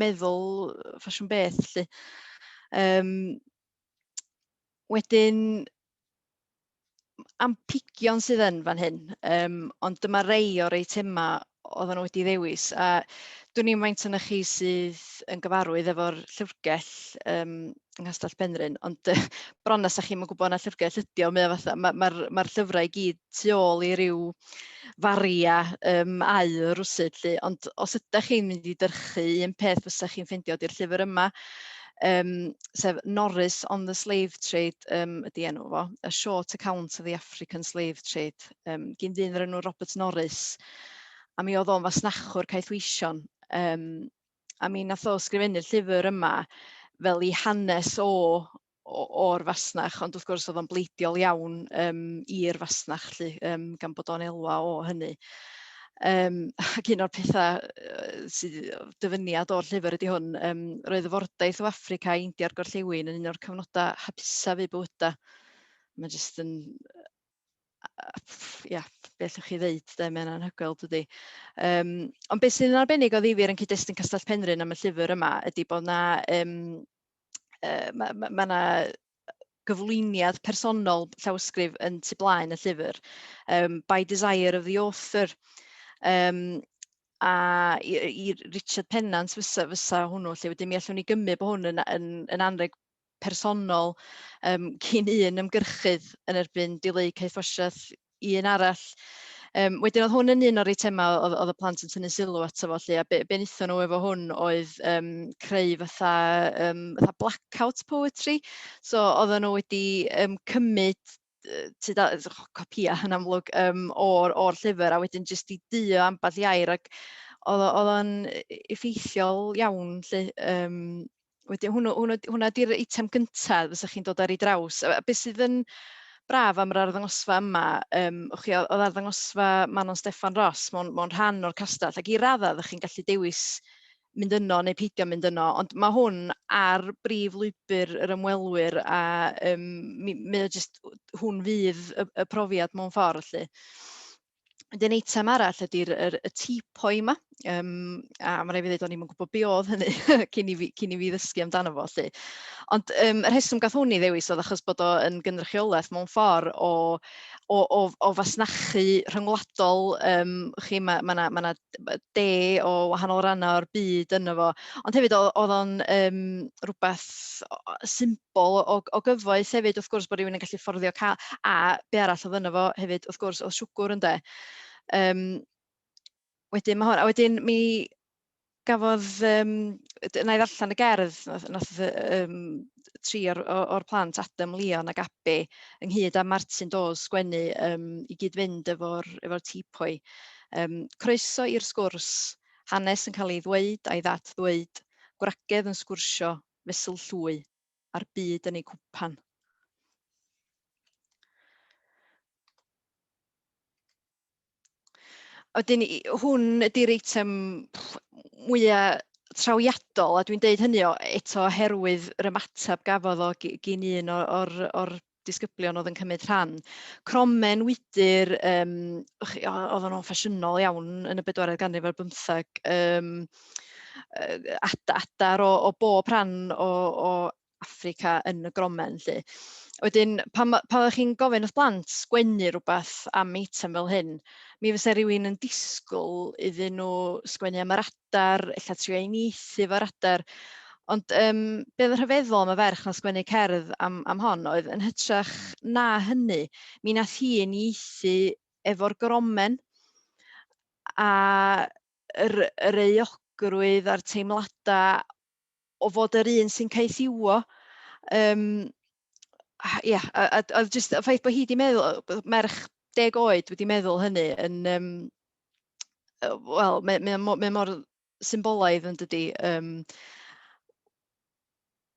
meddwl ffasiwn beth lly. Um, wedyn am pigion sydd yn fan hyn, um, ond dyma rei o'r eitemau oedden nhw wedi ddewis. A dwi'n i'n faint yna chi sydd yn gyfarwydd efo'r llyfrgell um, yng Nghastell Penrhyn, ond uh, bron as chi'n gwybod na llyfrgell ydi o, mae o fatha, mae'r ma, ma, ma llyfrau i gyd tu ôl i ryw faria um, au rwsyd lly. Ond os ydych chi'n mynd i dyrchu un peth fysa chi'n ffeindio di'r llyfr yma, um, sef Norris on the Slave Trade um, ydy enw fo, A Short Account of the African Slave Trade, um, gyn ddyn yr enw Robert Norris. A mi oedd o'n fasnachwr caethweision. Um, a mi nath o sgrifennu'r llyfr yma fel i hanes o o'r fasnach, ond wrth gwrs oedd o'n bleidiol iawn um, i'r fasnach, lly, um, gan bod o'n elwa o hynny. Um, ac un o'r pethau sydd dyfyniad o'r llyfr ydy hwn, um, roedd y fordaeth o Africa i India'r Gorllewin yn un o'r cyfnodau hapusaf i bywyda. Mae jyst yn ia, be allwch chi ddeud, de, mae'n anhygoel dydy. Um, ond beth sy'n arbennig o ddifir yn cyd-destun Castell Penrhyn am y llyfr yma ydy bod yna um, yy ma' ma' ma' 'na gyflwyniad personol llawysgrif yn tu blaen y llyfr um, by desire of the author. Um, a i, i Richard Pennant fysa, fysa hwnnw lle wedyn mi allwn ni gymryd bod hwn yn, yn, yn anreg personol um, cyn un ymgyrchydd yn erbyn dileu caethwasiaeth un arall. Um, wedyn oedd hwn yn un o'r eitemau oedd, oedd y plant yn tynnu sylw ato fo lle, a be, be wnaethon nhw efo hwn oedd um, creu fatha, um, fatha blackout poetry. So oedden nhw wedi um, cymryd ti da, copia yn amlwg um, o'r, or llyfr a wedyn jyst i duo ambell i air ac oedd o'n effeithiol iawn lle, um, wedyn hwnnw, hwnnw, hwnna di'r eitem gyntaf fysa chi'n dod ar ei draws. A beth sydd yn braf am yr arddangosfa yma, um, chi, oedd arddangosfa Manon Steffan Ross mewn, mewn rhan o'r castell, ac i raddau ydych chi'n gallu dewis mynd yno neu peidio mynd yno, ond mae hwn ar brif lwybr yr ymwelwyr a um, mi, mae o jyst, hwn fydd y, y profiad mewn ffordd, lle. Wedyn eitem arall ydy'r yr y tipoi 'ma yym a ma' raid fi ddeud o'n i'm yn gwybod be oedd hynny cyn i fi cyn i fi ddysgu amdano fo 'lly. Ond yym y rheswm gath hwn 'i ddewis oedd achos bod o yn gynrychiolaeth mewn ffordd o o o o fasnachu rhyngwladol yym chi ma' ma' 'na ma' 'na de o wahanol rannau o'r byd yno fo ond hefyd oedd o'n um, rhywbeth symbol o, o gyfoeth hefyd wrth gwrs bod rhywun yn gallu fforddio cael a be arall oedd yno fo hefyd wrth gwrs oedd siwgwr ynde. Um, wedyn mae hwn, a wedyn mi gafodd, um, na i ddarllen y gerdd, nath, nath um, tri o'r, o'r plant, Adam, Leon ac Abbie, ynghyd â Martyn Dawes, sgwennu, um, i gyd-fynd efo'r efo tipoi. Um, croeso i'r sgwrs, hanes yn cael ei ddweud a'i ddad ddweud, gwragedd yn sgwrsio, fesul llwy, a'r byd yn ei cwpan. Oedyn, hwn ydy'r eitem mwyaf trawiadol, a dwi'n deud hynny o, eto oherwydd yr ymateb gafodd o gyn un o'r, or disgyblion oedd yn cymryd rhan. Cromen, wydr, um, oedd nhw'n ffasiynol iawn yn y bedwaredd ganrif ar bymtheg, um, adar o, o bob rhan o, o Affrica yn y gromen 'lly. Wedyn pan ma' pan oeddech chi'n gofyn wrth blant sgwennu rhywbeth am eitem fel hyn, mi fysa rhywun yn disgwyl iddyn nhw sgwennu am yr adar, ella trio uniaethu efo'r adar. Ond um, be oedd yn rhyfeddol am y ferch na sgwennu cerdd am, am hon oedd yn hytrach na hynny, mi nath hi uniaethu efo'r gromen a yr, yr euogrwydd a'r teimladau o fod yr un sy'n caethiwo um, ia, a, a, a just y ffaith bod hi wedi meddwl, merch deg oed wedi meddwl hynny yn, um, wel, mae, mae, mae, mae mor symbolaidd yn dydy. Um,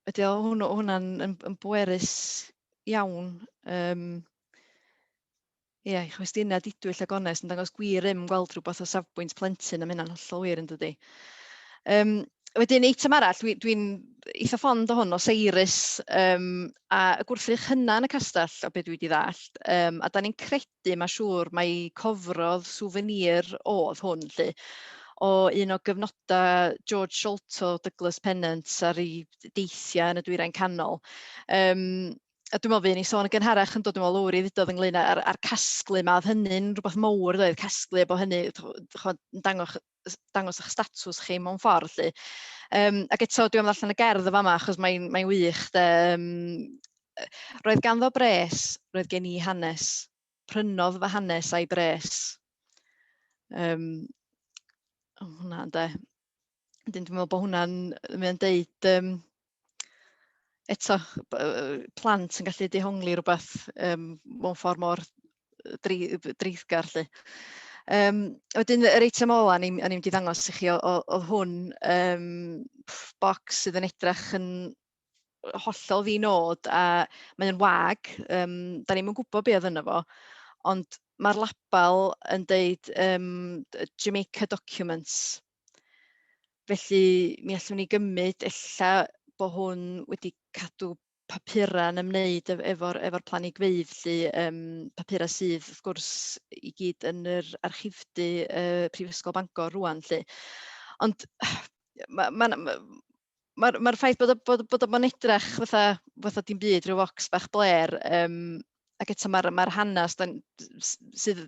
ydy o hwnna'n yn, yn bwerus iawn. Um, Ie, i chwestiyna didwyll a gonest yn dangos gwir rym gweld rhywbeth o safbwynt plentyn, a mae hynna'n hollol wir yn dydy. Um, wedyn, eitem arall, dwi'n dwi, dwi eitha ffond o hwn, o Seiris, um, a y gwrthrych hynna yn y castell, o beth dwi wedi ddallt, um, a da ni'n credu, mae siŵr, mae cofrodd souvenir oedd hwn, lle, o un o gyfnodau George Sholto, Douglas Pennant ar ei deithiau yn y dwyrain canol. Um, a dwi'n meddwl fuon ni sôn yn gynharach yn dod yn ôl lowr i ddudodd ynglyn â'r a'r casglu 'ma, oedd hynny'n rhywbeth mowr doedd, casglu efo hynny chimod yn dangos dangos eich statws chi mewn ffordd 'lly. Yym ac eto dwi am ddarllen y gerdd yn fama achos mae'n mae'n wych de yym roedd ganddo bres, roedd gen i hanes, prynodd fy hanes a'i bres. Yym o hwnna ynde. Wedyn dwi'n meddwl bod hwnna'n mae'n deud yym eto plant yn gallu dehongli rhywbeth um, mewn ffordd mor dreithgar lly. Um, wedyn yr eitem ola ni'n ni mynd i ddangos i chi oedd hwn um, box sydd yn edrych yn hollol ddi nod a mae'n wag, um, da ni'n gwybod beth oedd yna fo, ond mae'r label yn deud um, Jamaica Documents Felly mi allwn ni gymryd ella bod hwn wedi cadw papurau yn ymwneud efo'r efo planigfeydd lly, um, papurau sydd wrth gwrs i gyd yn yr archifdy uh, Prifysgol Bangor rwan lly. Ond mae ma, ma, mae'r ma ffaith bod o, bod, bod o bo'n edrach fatha, fatha dim byd, rhyw fox bach bler, um, ac eto mae'r ma hanes da, sydd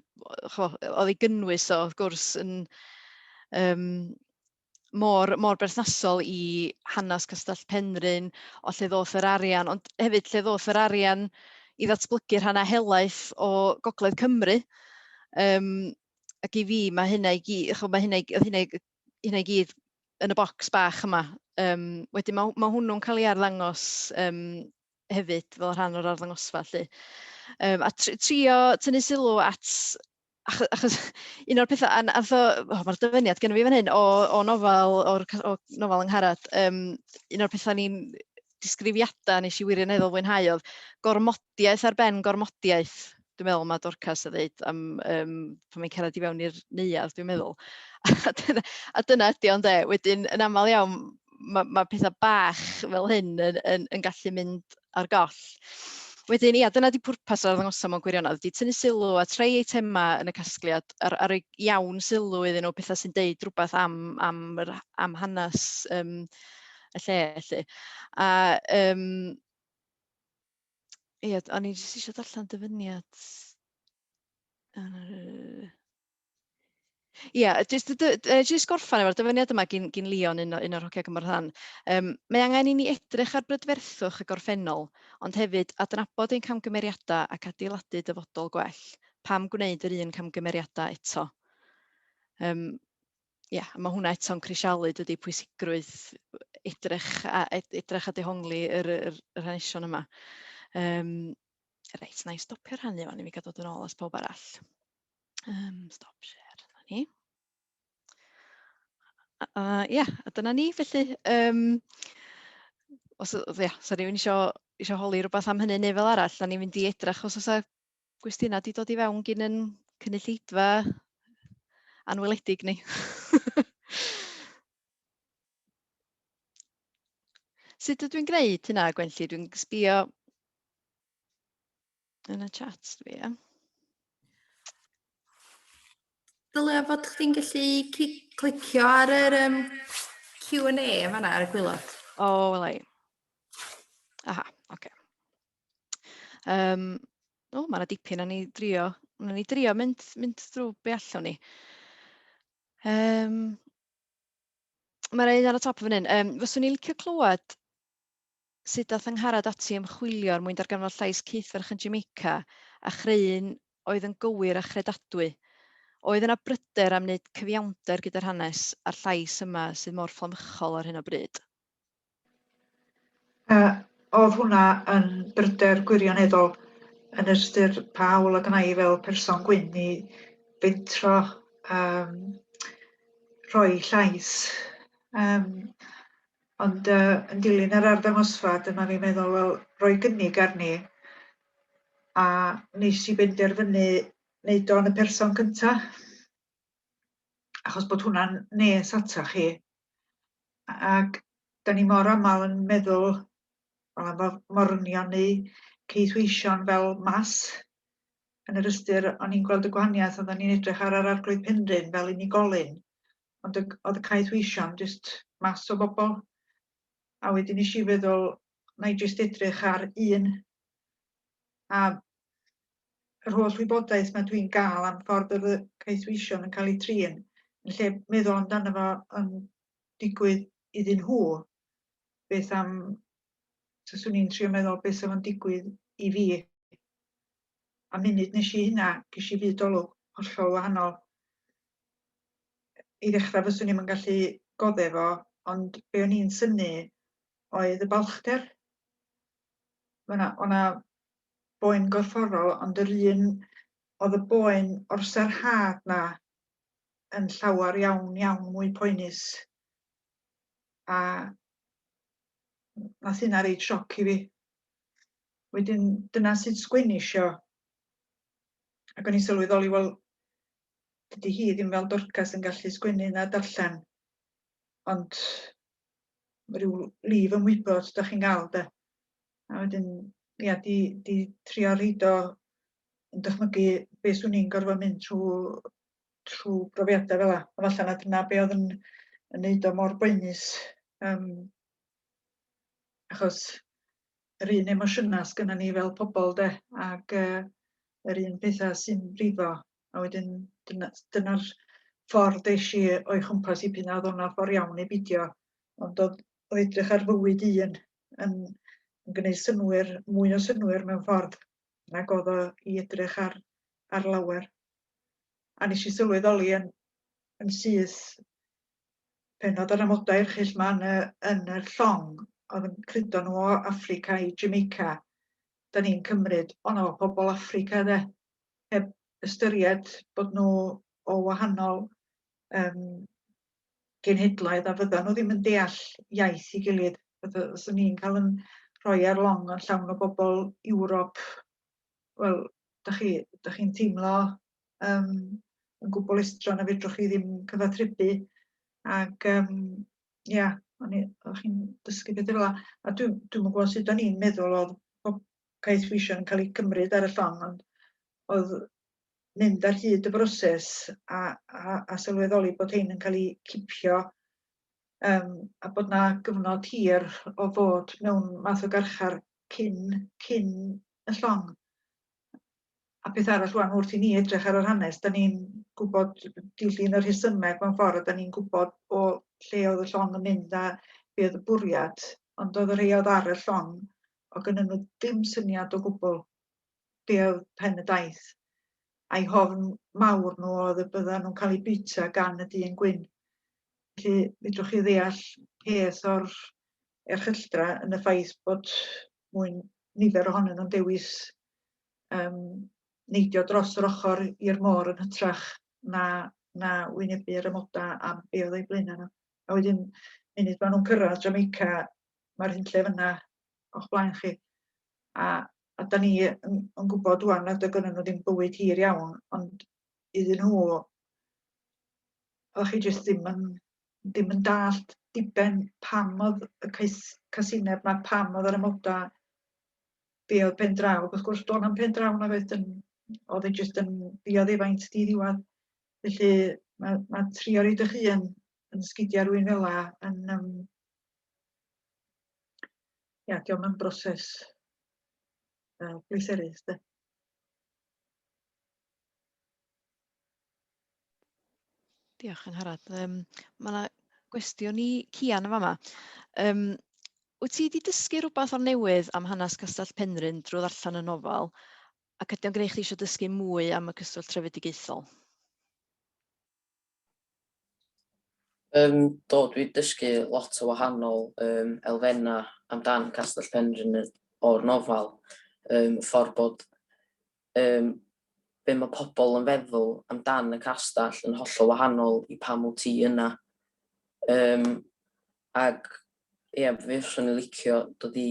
oedd ei gynnwys o, wrth gwrs, yn um, mor, mor berthnasol i hanes Castell Penrhyn, o lle ddoth yr arian, ond hefyd lle ddoth yr arian i ddatblygu rhan a helaeth o Gogledd Cymru. Um, ac i fi, mae hynna i gyd, mae hynna, oedd hynna hynna i gyd yn y bocs bach yma. Um, wedyn mae, mae hwnnw'n cael ei arddangos um, hefyd fel rhan o'r arddangosfa. Lly. Um, a trio tynnu sylw at achos, achos un o'r pethau, a o, oh, mae'r dyfyniad gen i fi fan hyn o, o nofel, o'r o nofel yng Ngharad, um, un o'r pethau ni'n disgrifiadau nes i wirioneddol fwynhau oedd gormodiaeth ar ben gormodiaeth, dwi'n meddwl mae Dorcas a ddeud am um, pan mae'n cerdded i fewn i'r neuad, dwi'n meddwl. a dyna, a dyna ydy o'n de. Wedyn, yn aml iawn, mae, mae pethau bach fel hyn yn, yn, yn gallu mynd ar goll. Wedyn, ia, dyna di pwrpas o'r ddangosau mewn gwirionedd, di tynnu sylw a treu eitemau yn y casgliad ar, ar ei iawn sylw iddyn nhw, pethau sy'n deud rhywbeth am, am, am hanes um, y lle 'lly. A yym ia, o'n i jyst isio darllen dyfyniad yy ia jyst y dy- yy jyst gorffen efo'r dyfyniad yma gin gin Leon un o un o'r hogia cymorth a thân. Yym "mae angen i ni edrych ar brydferthwch y gorffennol ond hefyd adnabod ein camgymeriadau ac adeiladu dyfodol gwell. Pam gwneud yr un camgymeriadau eto?" Yym ia, mae hwnna eto'n crisialu dydy pwysigrwydd edrych a edrych a dehongli yr, yr, yr hanesion yma. Um, reit, na i stopio rhannu fan i mi gael dod yn ôl as pawb arall. Um, stop share, dyna ni. Ia, uh, yeah, dyna ni, felly, um, os, ia, yeah, sa rhywun eisiau, eisiau holi rhywbeth am hynny neu fel arall, da ni'n mynd i edrych os oes gwestiynau wedi dod i fewn gyn yn cynulleidfa anweledig ni. Sut ydw i'n gwneud hynna, Gwenlli? Dwi'n sbio yn y chat, dwi, ia. Dylia fod chdi'n gallu clicio ar yr um, Q&A yn fanna ar y gwylod. O, oh, welai. Aha, oce. Okay. Um, o, mae yna dipyn o'n i drio, o'n i drio mynd, mynd drwy be allwn ni. Um, mae yna un ar y top fan hyn. Um, fyswn i'n licio clywed sut dath yngharad ati ymchwilio er mwyn darganfod llais cythferch yn Jamaica a chreu'n oedd yn gywir a chredadwy. Oedd yna bryder am wneud cyfiawnder gyda'r hanes a'r llais yma sydd mor fflamychol ar hyn o bryd? A oedd hwnna yn bryder gwirioneddol yn ystyr pa hawl a gna i fel person gwyn i fentro um, rhoi llais. Um, ond uh, yn dilyn yr arddangosfa, dyma fi'n meddwl, wel, roi gynnig arni, a nes i benderfynu wneud o'n y person cyntaf. achos bod hwnna'n nes ata chi ac da ni mor aml yn meddwl wel am morwnion neu ceithweision fel mas yn yr ystyr o'n i'n gweld y gwahaniaeth oedden ni'n edrych ar yr arglwydd Penrhyn fel unigolyn ond oedd y caethweision jyst mas o bobl a wedyn nes i feddwl na i jyst edrych ar un a yr holl wybodaeth mae dwi'n gael am ffordd oedd y caethweision yn cael eu trin, yn lle meddwl amdano fo yn digwydd iddyn nhw, beth am, taswn i'n trio meddwl beth sef o'n digwydd i fi. A munud nes i hynna, ges i fyd olwg hollol wahanol. I ddechrau fyswn i'n gallu godde fo, ond be o'n i'n syni oedd y balchder. O'na boen gorfforol ond yr un oedd y boen o'r sarhad 'na yn llawer iawn iawn mwy poenus a nath hynna reit sioc i fi. Wedyn dyna sut sgwennish i o ac o'n i'n sylweddoli wel dydi hi ddim fel Dorcas yn gallu sgwennu na darllen ond ryw lif ymwybod 'dach chi'n ga'l 'de. A wedyn, ia, 'di 'di trio roid o yn dychmygu be' 'swn i'n gorfod mynd trw trw brofiada' fel 'a. A falla na dyna be' o'dd yn yn neud o mor boenus yym achos yr un emosiyna' sgynnon ni fel pobol 'de ag yy yr un petha' sy'n brifo a wedyn dyna dyna'r ffordd esh i o'i chwmpas 'i p'un a o'dd o'n ffor iawn neu bidio ond o'dd o edrych ar fywyd un yn, yn gwneud synwyr, mwy o synwyr mewn ffordd nag oedd o i edrych ar, ar lawer. A nes i sylweddoli yn, yn syth pen oedd yr amodau erchill ma yn y, yn y llong oedd yn cludo nhw o Africa i Jamaica, da ni'n cymryd, o na o pobl Africa dde, heb ystyried bod nhw o wahanol yym genhedloedd a fyddan nhw ddim yn deall iaith i gilydd. Os o'n i'n cael yn rhoi ar long yn llawn o bobl Ewrop, wel, da chi, da chi'n teimlo um, yn gwbl estron a fedrwch chi ddim cyfathrebu. Ac, um, ia, yeah, o'n i'n dysgu beth fel A dwi'n dwi gwybod sut o'n i'n meddwl oedd pob caeth wisio yn cael ei gymryd ar y llong, ond oedd mynd ar hyd y broses a, a, a sylweddoli bod hyn yn cael ei cipio um, a bod na gyfnod hir o fod mewn math o garchar cyn, cyn y llong. A peth arall rwan wrth i ni edrych ar yr hanes, da ni'n gwybod dilyn yr hysymeg mewn ffordd, da ni'n gwybod o lle oedd y llong yn mynd a be oedd y bwriad, ond oedd y rhai oedd ar y llong, o gynnyn nhw ddim syniad o gwbl be oedd pen y daith, a'i hofn mawr nhw oedd y byddan nhw'n cael eu bwyta gan y dyn gwyn. Felly, fedrwch chi ddeall peth o'r erchylltra yn y ffaith bod mwy nifer ohonyn nhw'n dewis um, neidio dros yr ochr i'r môr yn hytrach na, na wynebu'r ymoda am be oedd ei blaenau nhw. A wedyn, munud maen nhw'n cyrraedd Jamaica, mae'r hunllef yna o'ch blaen chi. A, a da ni yn, yn gwybod rwan nad oedd gynnu nhw ddim bywyd hir iawn, ond iddyn nhw, oedd chi jyst ddim yn, ddim yn dallt diben pam oedd y cais, casineb yma, pam oedd yr amodau, be oedd pen draw. Wrth gwrs, do'n am pen draw na oedd yn, oedd yn jyst yn ddioddefaint di ddiwedd. Felly, mae, mae trio rhaid eich hun yn sgidiau rwy'n fel yn, um, Ia, diolch am broses uh, pleserus, de. Diolch yn harad. Um, mae yna gwestiwn i Cian yn fama. Um, wyt ti wedi dysgu rhywbeth o'r newydd am hanes Castell Penrhyn drwy ddarllen y nofel ac ydy o'n gwneud chi eisiau dysgu mwy am y cyswllt trefedigaethol? Yym do dwi 'di dysgu lot o wahanol yym elfenna' amdan Castell Penrhyn o'r nofel yym y ffordd bod yym be' ma' pobl yn feddwl amdan y castell yn hollol wahanol i pam wt ti yna yym ag ie f- fyswn i'n licio dod i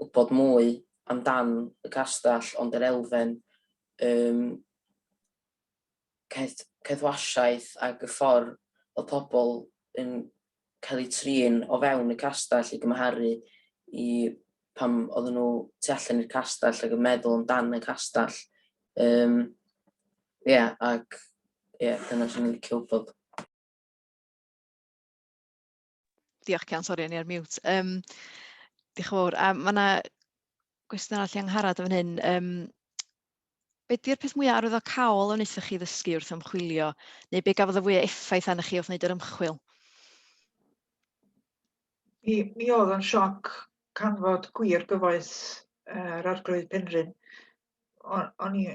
wybod mwy amdan y castell ond yr elfen yym caethwasiaeth ac y ffordd oedd pobl yn cael eu trin o fewn y castell i gymharu i pan oedden nhw tu allan i'r castell ac yn meddwl amdan y castell. Um, yeah, ac yeah, dyna sy'n licio wybod. Diolch Cian, sori o'n i ar mute. Um, diolch yn fawr. A mae yna gwestiwn arall i Angharad yn fan hyn. Um, be di'r peth mwyaf arwyddocaol a wnaethoch chi ddysgu wrth ymchwilio, neu be gafodd y fwyaf effaith arnoch chi wrth wneud yr ymchwil? Mi, mi oedd yn sioc canfod gwir gyfoes yr Arglwydd Penrhyn. O'n i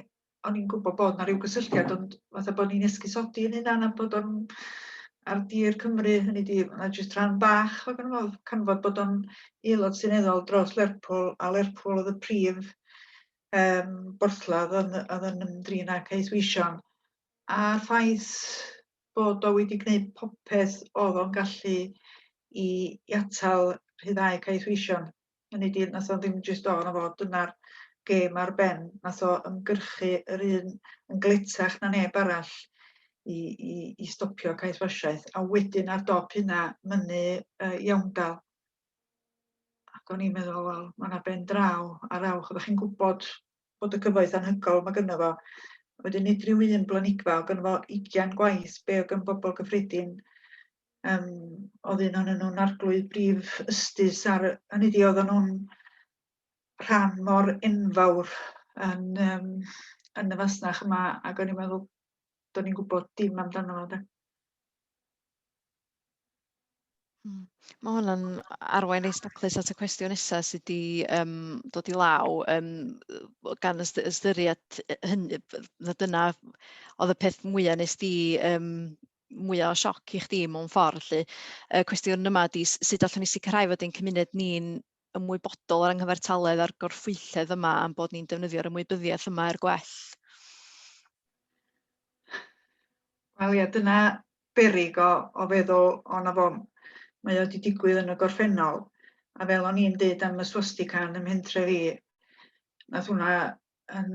o'n i'n gwybod bod 'na ryw gysylltiad ond fatha bod ni'n esgusodi yn hynna am bod o'n ar dir Cymru, hynny ydi ma' jyst rhan bach o ganfod canfod bod o'n aelod seneddol dros Lerpwl a Lerpwl oedd y prif yym borthladd oedd oedd yn ymdrin â Cais Wîsion a'r ffaith bod o wedi gwneud popeth oedd o'n gallu i i atal rhyddhau Cais Wîsion. Hynny ydi, wnaeth o ddim jyst dod na fo, dyna'r gêm ar ben. Wnaeth o ymgyrchu yr un yn gletach na neb arall i, i, i stopio caethwasiaeth. A wedyn ar dop hynna, mynnu uh, iawndal. Ac o'n i'n meddwl, wel, mae yna ben draw ar awch. Oeddech chi'n gwybod bod y cyfoeth anhygoel mae gynno fo. Wedyn nid rhyw un blanigfa, o gynno fo ugian gwaith be o gyn bobl gyffredin. Um, oedd un o'n nhw'n arglwydd brif ystus ar hynny di, oedd nhw'n rhan mor enfawr yn, um, yn y fasnach yma, ac o'n i'n meddwl, do'n i'n gwybod dim amdano fo. Hmm. Ma' hwnna'n arwain neis daclus at y cwestiwn nesa sy 'di yym dod i law yym yy gan yst- ystyried yy hynny b- na dyna oedd y peth mwya nes di yym mwya o sioc i chdi mewn ffordd lly y cwestiwn yma 'di s- sut allwn ni sicrhau fod ein cymuned ni'n ymwybodol o'r anghyfartaledd a'r gorffwylledd yma am bod ni'n defnyddio'r ymwybyddiaeth yma er gwell. Wel ia, dyna berig o, o feddwl o'na fo. Mae o wedi digwydd yn y gorffennol, a fel o'n i'n deud am y swastika yn y mhentre fi, nath hwnna yn,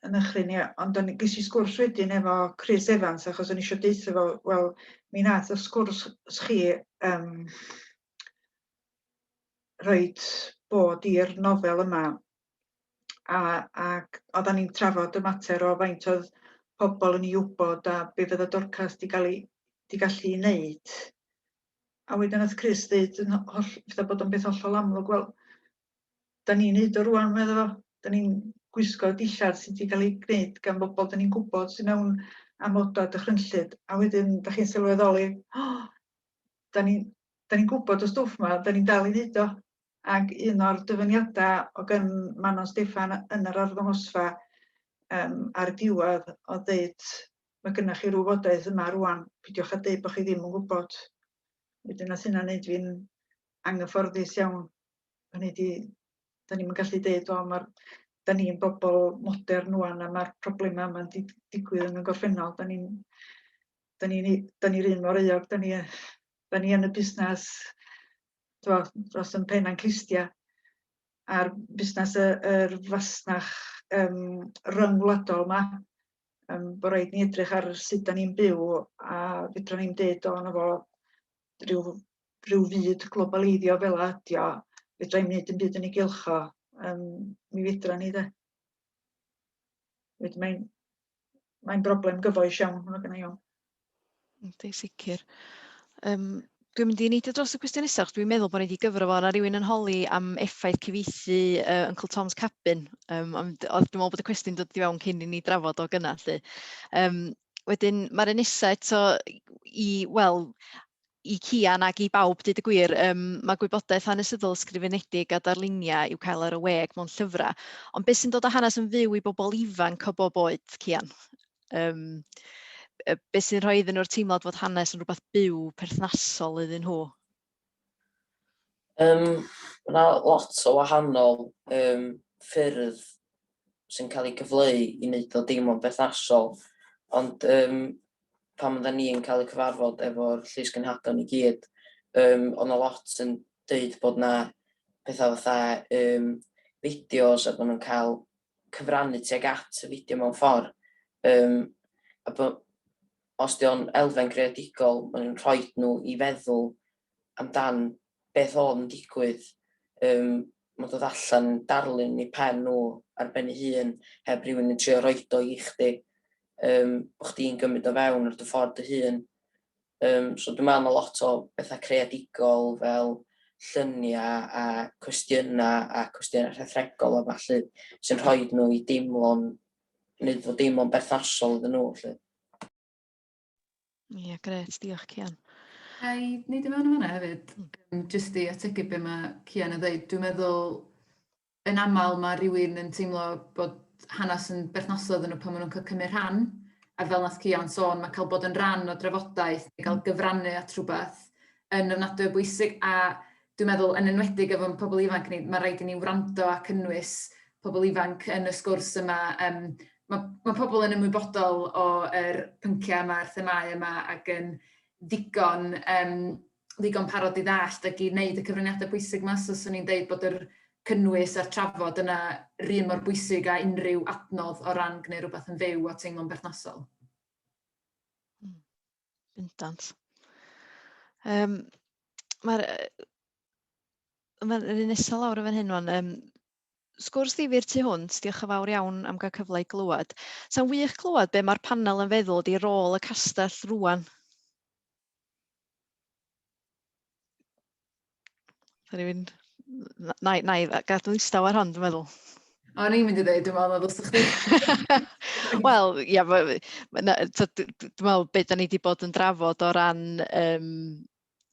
yn ychlyn i, ond o'n ges i sgwrs wedyn efo Chris Evans, achos o'n i eisiau deutha fo, wel, mi nath y sgwrs chi um, rhoid bod i'r nofel yma a ac oeddan ni'n trafod y mater o faint oedd pobl yn ei wybod a be fydda Dorcas 'di ga'l 'i 'di gallu 'i wneud. A wedyn nath Chris ddeud yn ho- holl fatha bod o'n beth hollol amlwg wel 'dan ni'n neud o rŵan medda fo. 'Dan ni'n gwisgo dillad sy 'di ga'l 'i gneud gan bobol 'dan ni'n gwbod sy mewn amoda dychrynllyd a wedyn 'dach chi'n sylweddoli o da ni'n da ni gwybod y stwff yma, da ni'n dal i wneud o. Ac un o'r dyfyniadau o gan Manon Steffan yn yr arddangosfa um, ar y diwedd o ddeud mae gennych chi rhyw fodaeth yma rwan, pidiwch a dweud bod chi ddim yn gwybod. Wedyn nath hynna wneud fi'n anghyfforddus iawn. Hynny di, da ni'n gallu dweud, o, mae'r da ni'n bobl modern rwan a mae'r problemau yma'n digwydd yn y gorffennol. Da ni'n da ni'n ni, da ni'r un mor euog, da ni, da ni yn y busnes twa, dros yn pen a'n clustia a'r busnes y, yr fasnach um, ryngwladol yma. Um, bod rhaid ni edrych ar sut da ni'n byw a fydra ni'n dweud o'n efo rhyw, rhyw fyd globaleiddio fel adio, fydra ni'n mynd yn byd yn ei gylcho, um, mi fydra ni dde. Mae'n mae'n broblem gyfoes iawn, mae'n gen i o. Ynddi, sicr. Um, dwi'n mynd i neidio dros y cwestiwn nesaf, dwi'n meddwl bod ni wedi gyfro fo, na rhywun yn holi am effaith cyfeithi uh, Uncle Tom's Cabin. Um, ond dwi'n meddwl bod y cwestiwn dod i fewn cyn i ni drafod o gyna, lle. Um, wedyn, mae'r un nesaf eto i, wel, i Cian ac i bawb dweud y gwir, yym, mae gwybodaeth hanesyddol ysgrifenedig a darluniau i'w cael ar y we ac mewn llyfrau, ond beth sy'n dod â hanes yn fyw i bobl ifanc o bob oed, Cian? Yym, beth sy'n rhoi iddyn nhw'r teimlad fod hanes yn rhywbeth byw, perthnasol iddyn nhw? Um, mae yna lot o wahanol um, ffyrdd sy'n cael ei gyfleu i wneud o deimlo'n berthnasol, ond um, pan oedden ni yn cael y cyfarfod efo'r llysgenhadon i gyd, um, oedd na lot yn dweud bod na pethau fatha um, fideos a bod nhw'n cael cyfrannu tuag at y fideo mewn ffordd. Um, a bod, os di o'n elfen greadigol, maen nhw'n rhoi nhw i feddwl amdan beth oedd yn digwydd, yym, ma'n dod allan yn darlun eu pen nhw ar ben ei hun, heb rywun yn trio roid o i chdi, yym, bod chdi'n gymryd o fewn ar dy ffordd dy hun. Um, so dwi'n meddwl mae lot o bethau creadigol fel lluniau a cwestiynau a cwestiynau rhethregol a falle sy'n rhoi nhw i deimlo'n, wneud fod deimlo'n berthnasol iddyn nhw. Lle. Ie, gret, diolch Cian. A i wneud i mewn yma hefyd, hmm. jyst i ategu be mae Cian yn dweud, dwi'n meddwl yn aml mae rhywun yn teimlo bod hanes yn berthnasol iddyn nhw pan maen nhw'n cael cymryd rhan, a fel nath Cian sôn, mae cael bod yn rhan o drafodaeth, neu cael gyfrannu at rhywbeth, yn ofnadwy o bwysig a dwi'n meddwl yn enwedig efo'n pobl ifanc ni, mae rhaid i ni wrando a cynnwys pobl ifanc yn y sgwrs yma. Um, mae, mae pobl yn ymwybodol o'r er pynciau yma, yr themau yma ac yn ddigon, um, ddigon parod i ddallt ac i wneud y cyfraniadau pwysig yma. So, swn i'n deud bod yr cynnwys a'r trafod yna rhy mor bwysig a unrhyw adnodd o ran gwneud rhywbeth yn fyw a teimlo'n berthnasol. Bendant. Um, Mae'r... Mae'r un nesaf lawr yn fan hyn, wan. Um, sgwrs ddifyr tu hwnt, diolch yn fawr iawn am gael cyfle i glywed. Sa'n wych clywed be mae'r panel yn feddwl di rôl y castell rwan. Sorry, fi'n... Na, na, gadw istaw ar hon, dwi'n meddwl. O, ni'n mynd i ddeud, dwi'n meddwl, os chdi... Wel, ia, dwi'n meddwl beth da ni wedi bod yn drafod o ran um,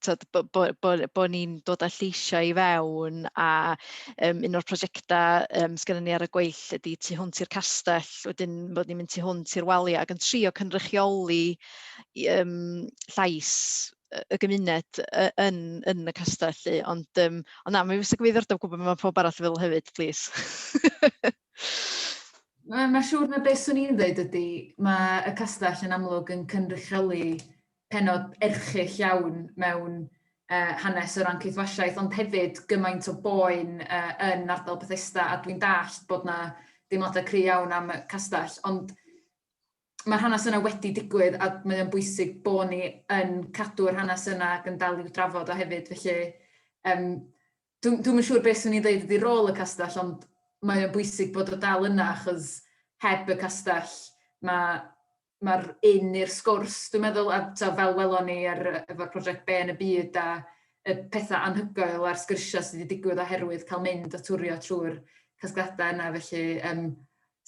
bod bo, bo, bo ni'n dod â lleisiau i fewn a um, un o'r prosiectau um, sydd gennym ni ar y gweill ydy tu hwnt i'r castell, wedyn bod ni'n mynd tu hwnt i'r waliau ac yn trio cynrychioli yym llais y gymuned yn yn y castell 'lly ond yym ond na mi fysa gyfeiriordob gwybod beth mae pawb arall yn feddwl hefyd plîs. Wel mae'n siŵr na beth swn i'n ddweud ydy mae y castell yn amlwg yn cynrychioli pennod erchyll iawn mewn uh, hanes o ran ceithwasiaeth, ond hefyd gymaint o boen uh, yn ardal Bethesda, a dwi'n dallt bod na deimladau cry iawn am y castell, ond Mae'r hanes yna wedi digwydd a mae o'n bwysig bod ni yn cadw'r hanes yna ac yn dal i'w drafod o hefyd. Felly, um, dwi'n dwi yn siŵr beth swn i'n dweud ydy rôl y castell, ond mae o'n bwysig bod o dal yna, achos heb y castell, mae mae'r un i'r sgwrs, dwi'n meddwl, a ta, fel welon ni ar, efo'r prosiect Be yn y Byd a y pethau anhygoel a'r sgyrsiau sydd wedi digwydd oherwydd cael mynd a twrio trwy'r casgliadau yna. Felly, um,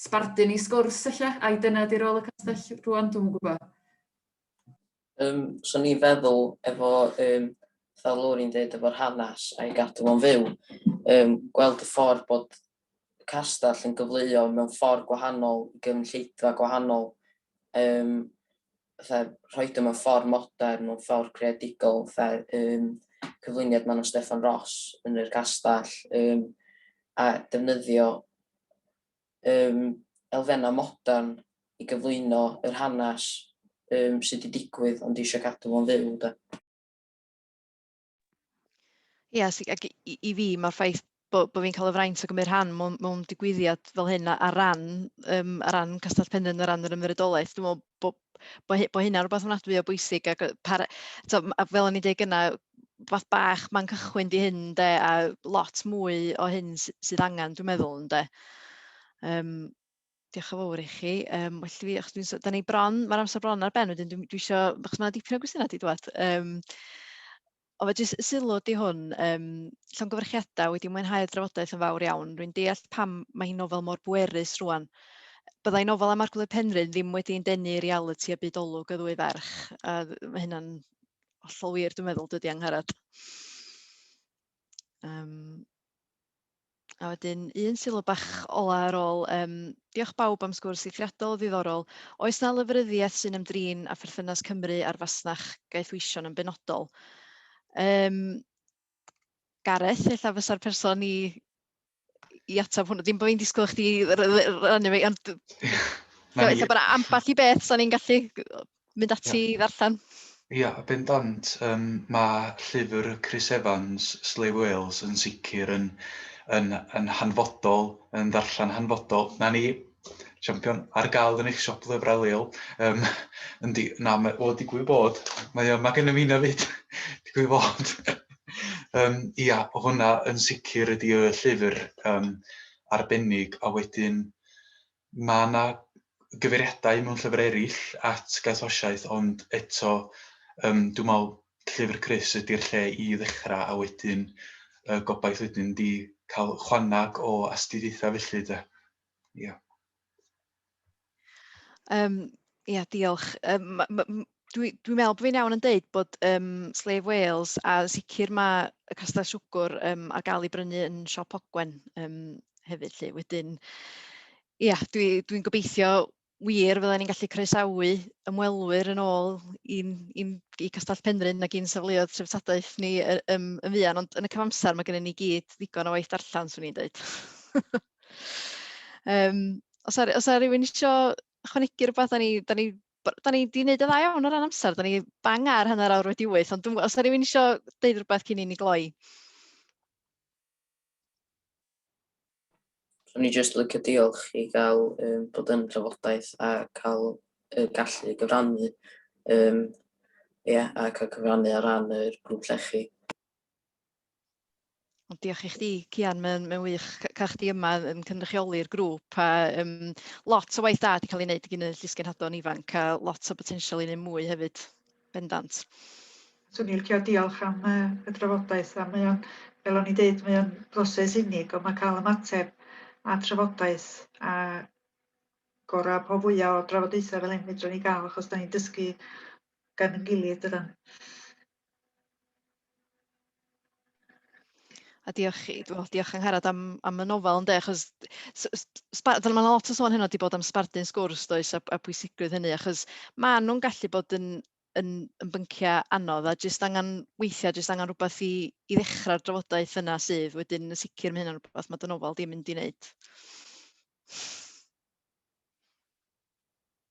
Sbardun i sgwrs ella, ai dyna di rôl y castell rŵan, dwi'm yn gwybod. Yym, so ni'n feddwl efo yym fel lwr i'n dweud efo'r hanes a'i gadw fo'n fyw, um, gweld y ffordd bod y castell yn gyfleuo mewn ffordd gwahanol i gynulleidfa gwahanol, um, fatha rhoid o mewn ffordd modern, mewn ffordd creadigol, fatha um, cyflwyniad Manon Steffan Ross yn yr castell, um, a defnyddio um, elfennau modern i gyflwyno yr hanes um, sydd wedi digwydd ond eisiau cadw fo'n fyw. Da. Ie, yes, ac i, i fi mae'r ffaith bod bo fi'n cael y fraint o gymryd rhan mewn, mewn digwyddiad fel hyn ar ran, um, ar ran Castell Penrhyn, ar ran yr ymwyrydolaeth, dwi'n meddwl bod bo, bo hynna rhywbeth yn adwy o bwysig ac par, to, fel o'n i'n dweud gyna, fath bach mae'n cychwyn di hyn de, a lot mwy o hyn sydd angen dwi'n meddwl yn de. Um, Diolch yn fawr i chi. Um, well, fi, achos dwi'n... Da ni bron, mae'r amser bron ar ben, wedyn dwi, dwi eisiau... Achos mae yna dipyn o gwestiynau wedi dod. Um, o, fe jyst sylw di hwn. Um, llongyfarchiadau wedi mwynhau'r drafodaeth yn fawr iawn. Rwy'n deall pam mae hi'n nofel mor bwerus rwan. Byddai nofel am Arglwydd Penrhyn ddim wedi'n denu reality a byd olwg y ddwy ferch. A mae hynna'n hollol wir, dwi'n meddwl, dydy Angharad. Um, A wedyn un sylw bach ola ar ôl, um, diolch bawb am sgwrs eithriadol o ddiddorol. Oes na lyfryddiaeth sy'n ymdrin â pherthynas Cymru a'r fasnach gaethweision yn benodol? Um, Gareth, eitha fysa'r person i, i ateb hwnnw. Dim bod fi'n disgwyl chdi rannu fi, ond... Eitha bod amball i beth, sa'n ni'n gallu mynd ati i ddarllen. Ia, bendant. Yym, mae llyfr Chris Evans, Slave Whales, yn sicr yn, yn, yn hanfodol, yn ddarllen hanfodol. Na ni, champion, ar gael yn eich siop lyfrau leol. Um, yndi, na, mae, o, digwydd bod, mae, mae gen i mi na fyd, digwydd bod. um, ia, hwnna yn sicr ydy y llyfr um, arbennig, a wedyn, Mae yna gyfeiriadau mewn llyfr eraill at Gathosiaeth ond eto yym dwi'n meddwl Llyfr Crys ydy'r lle i ddechrau a wedyn y gobaith wedyn ydy cael chwanag o astudiaethau felly de. Ia. Yym Ia, diolch. Yym, ma- ma- m- dwi dwi'n meddwl bod fi'n iawn yn deud bod yym, Slave Wales, a yn sicr ma' y castell siwgwr yym, ar gael ei brynu yn siop Ogwen yym, hefyd 'lly. Wedyn, ia, dwi dwi'n gobeithio wir fydden ni'n gallu croesawu ymwelwyr yn ôl i'n i'n i Castell Penrhyn ac i'n safleoedd treftadaeth ni yy yym yn fuan, ond yn y cyfamser mae gennym ni i gyd ddigon o waith darllen 'swn i'n deud. Yym, oes 'na ry- oes 'na rywun isio ychwanegu rwbath, da ni, da ni, da ni di wneud y dda iawn o ran amser, da ni bang ar hanner awr wedi wyth, ond dwi'n gwybod, os da rhywun eisiau deud rhywbeth cyn i ni gloi? Rwy'n ni jyst lycio diolch i gael um, bod yn trafodaeth a cael uh, gallu gyfrannu um, yeah, a cael cyfrannu ar ran yr grŵp llechi. Ond diolch i chdi, Cian, mae'n mae wych cael chdi yma yn cynrychioli'r grŵp a um, lot o waith da wedi cael ei wneud gyn y llysgenhadon ifanc a lot o botensial i wneud mwy hefyd, bendant. Swn i'n licio diolch am uh, y drafodaeth a mae o'n, fel o'n i dweud, mae o'n broses unig ond mae cael ymateb a trafodaeth a gorau po fwyaf o drafodaethau fel hyn fedrwn ni gael achos da ni'n dysgu gan yn gilydd dydan. A diolch chi, wel diolch Angharad am am y nofel ynde achos s- s- sba- fel ma' 'na lot o sôn heno 'di bod am sbardun sgwrs does a a pwysigrwydd hynny achos ma' nhw'n gallu bod yn yn yn bynciau anodd a jyst angen weithiau jyst angen rhywbeth i i ddechrau'r drafodaeth yna sydd wedyn yn sicr ma' hynna'n rhywbeth ma' dy nofel di'n mynd i wneud.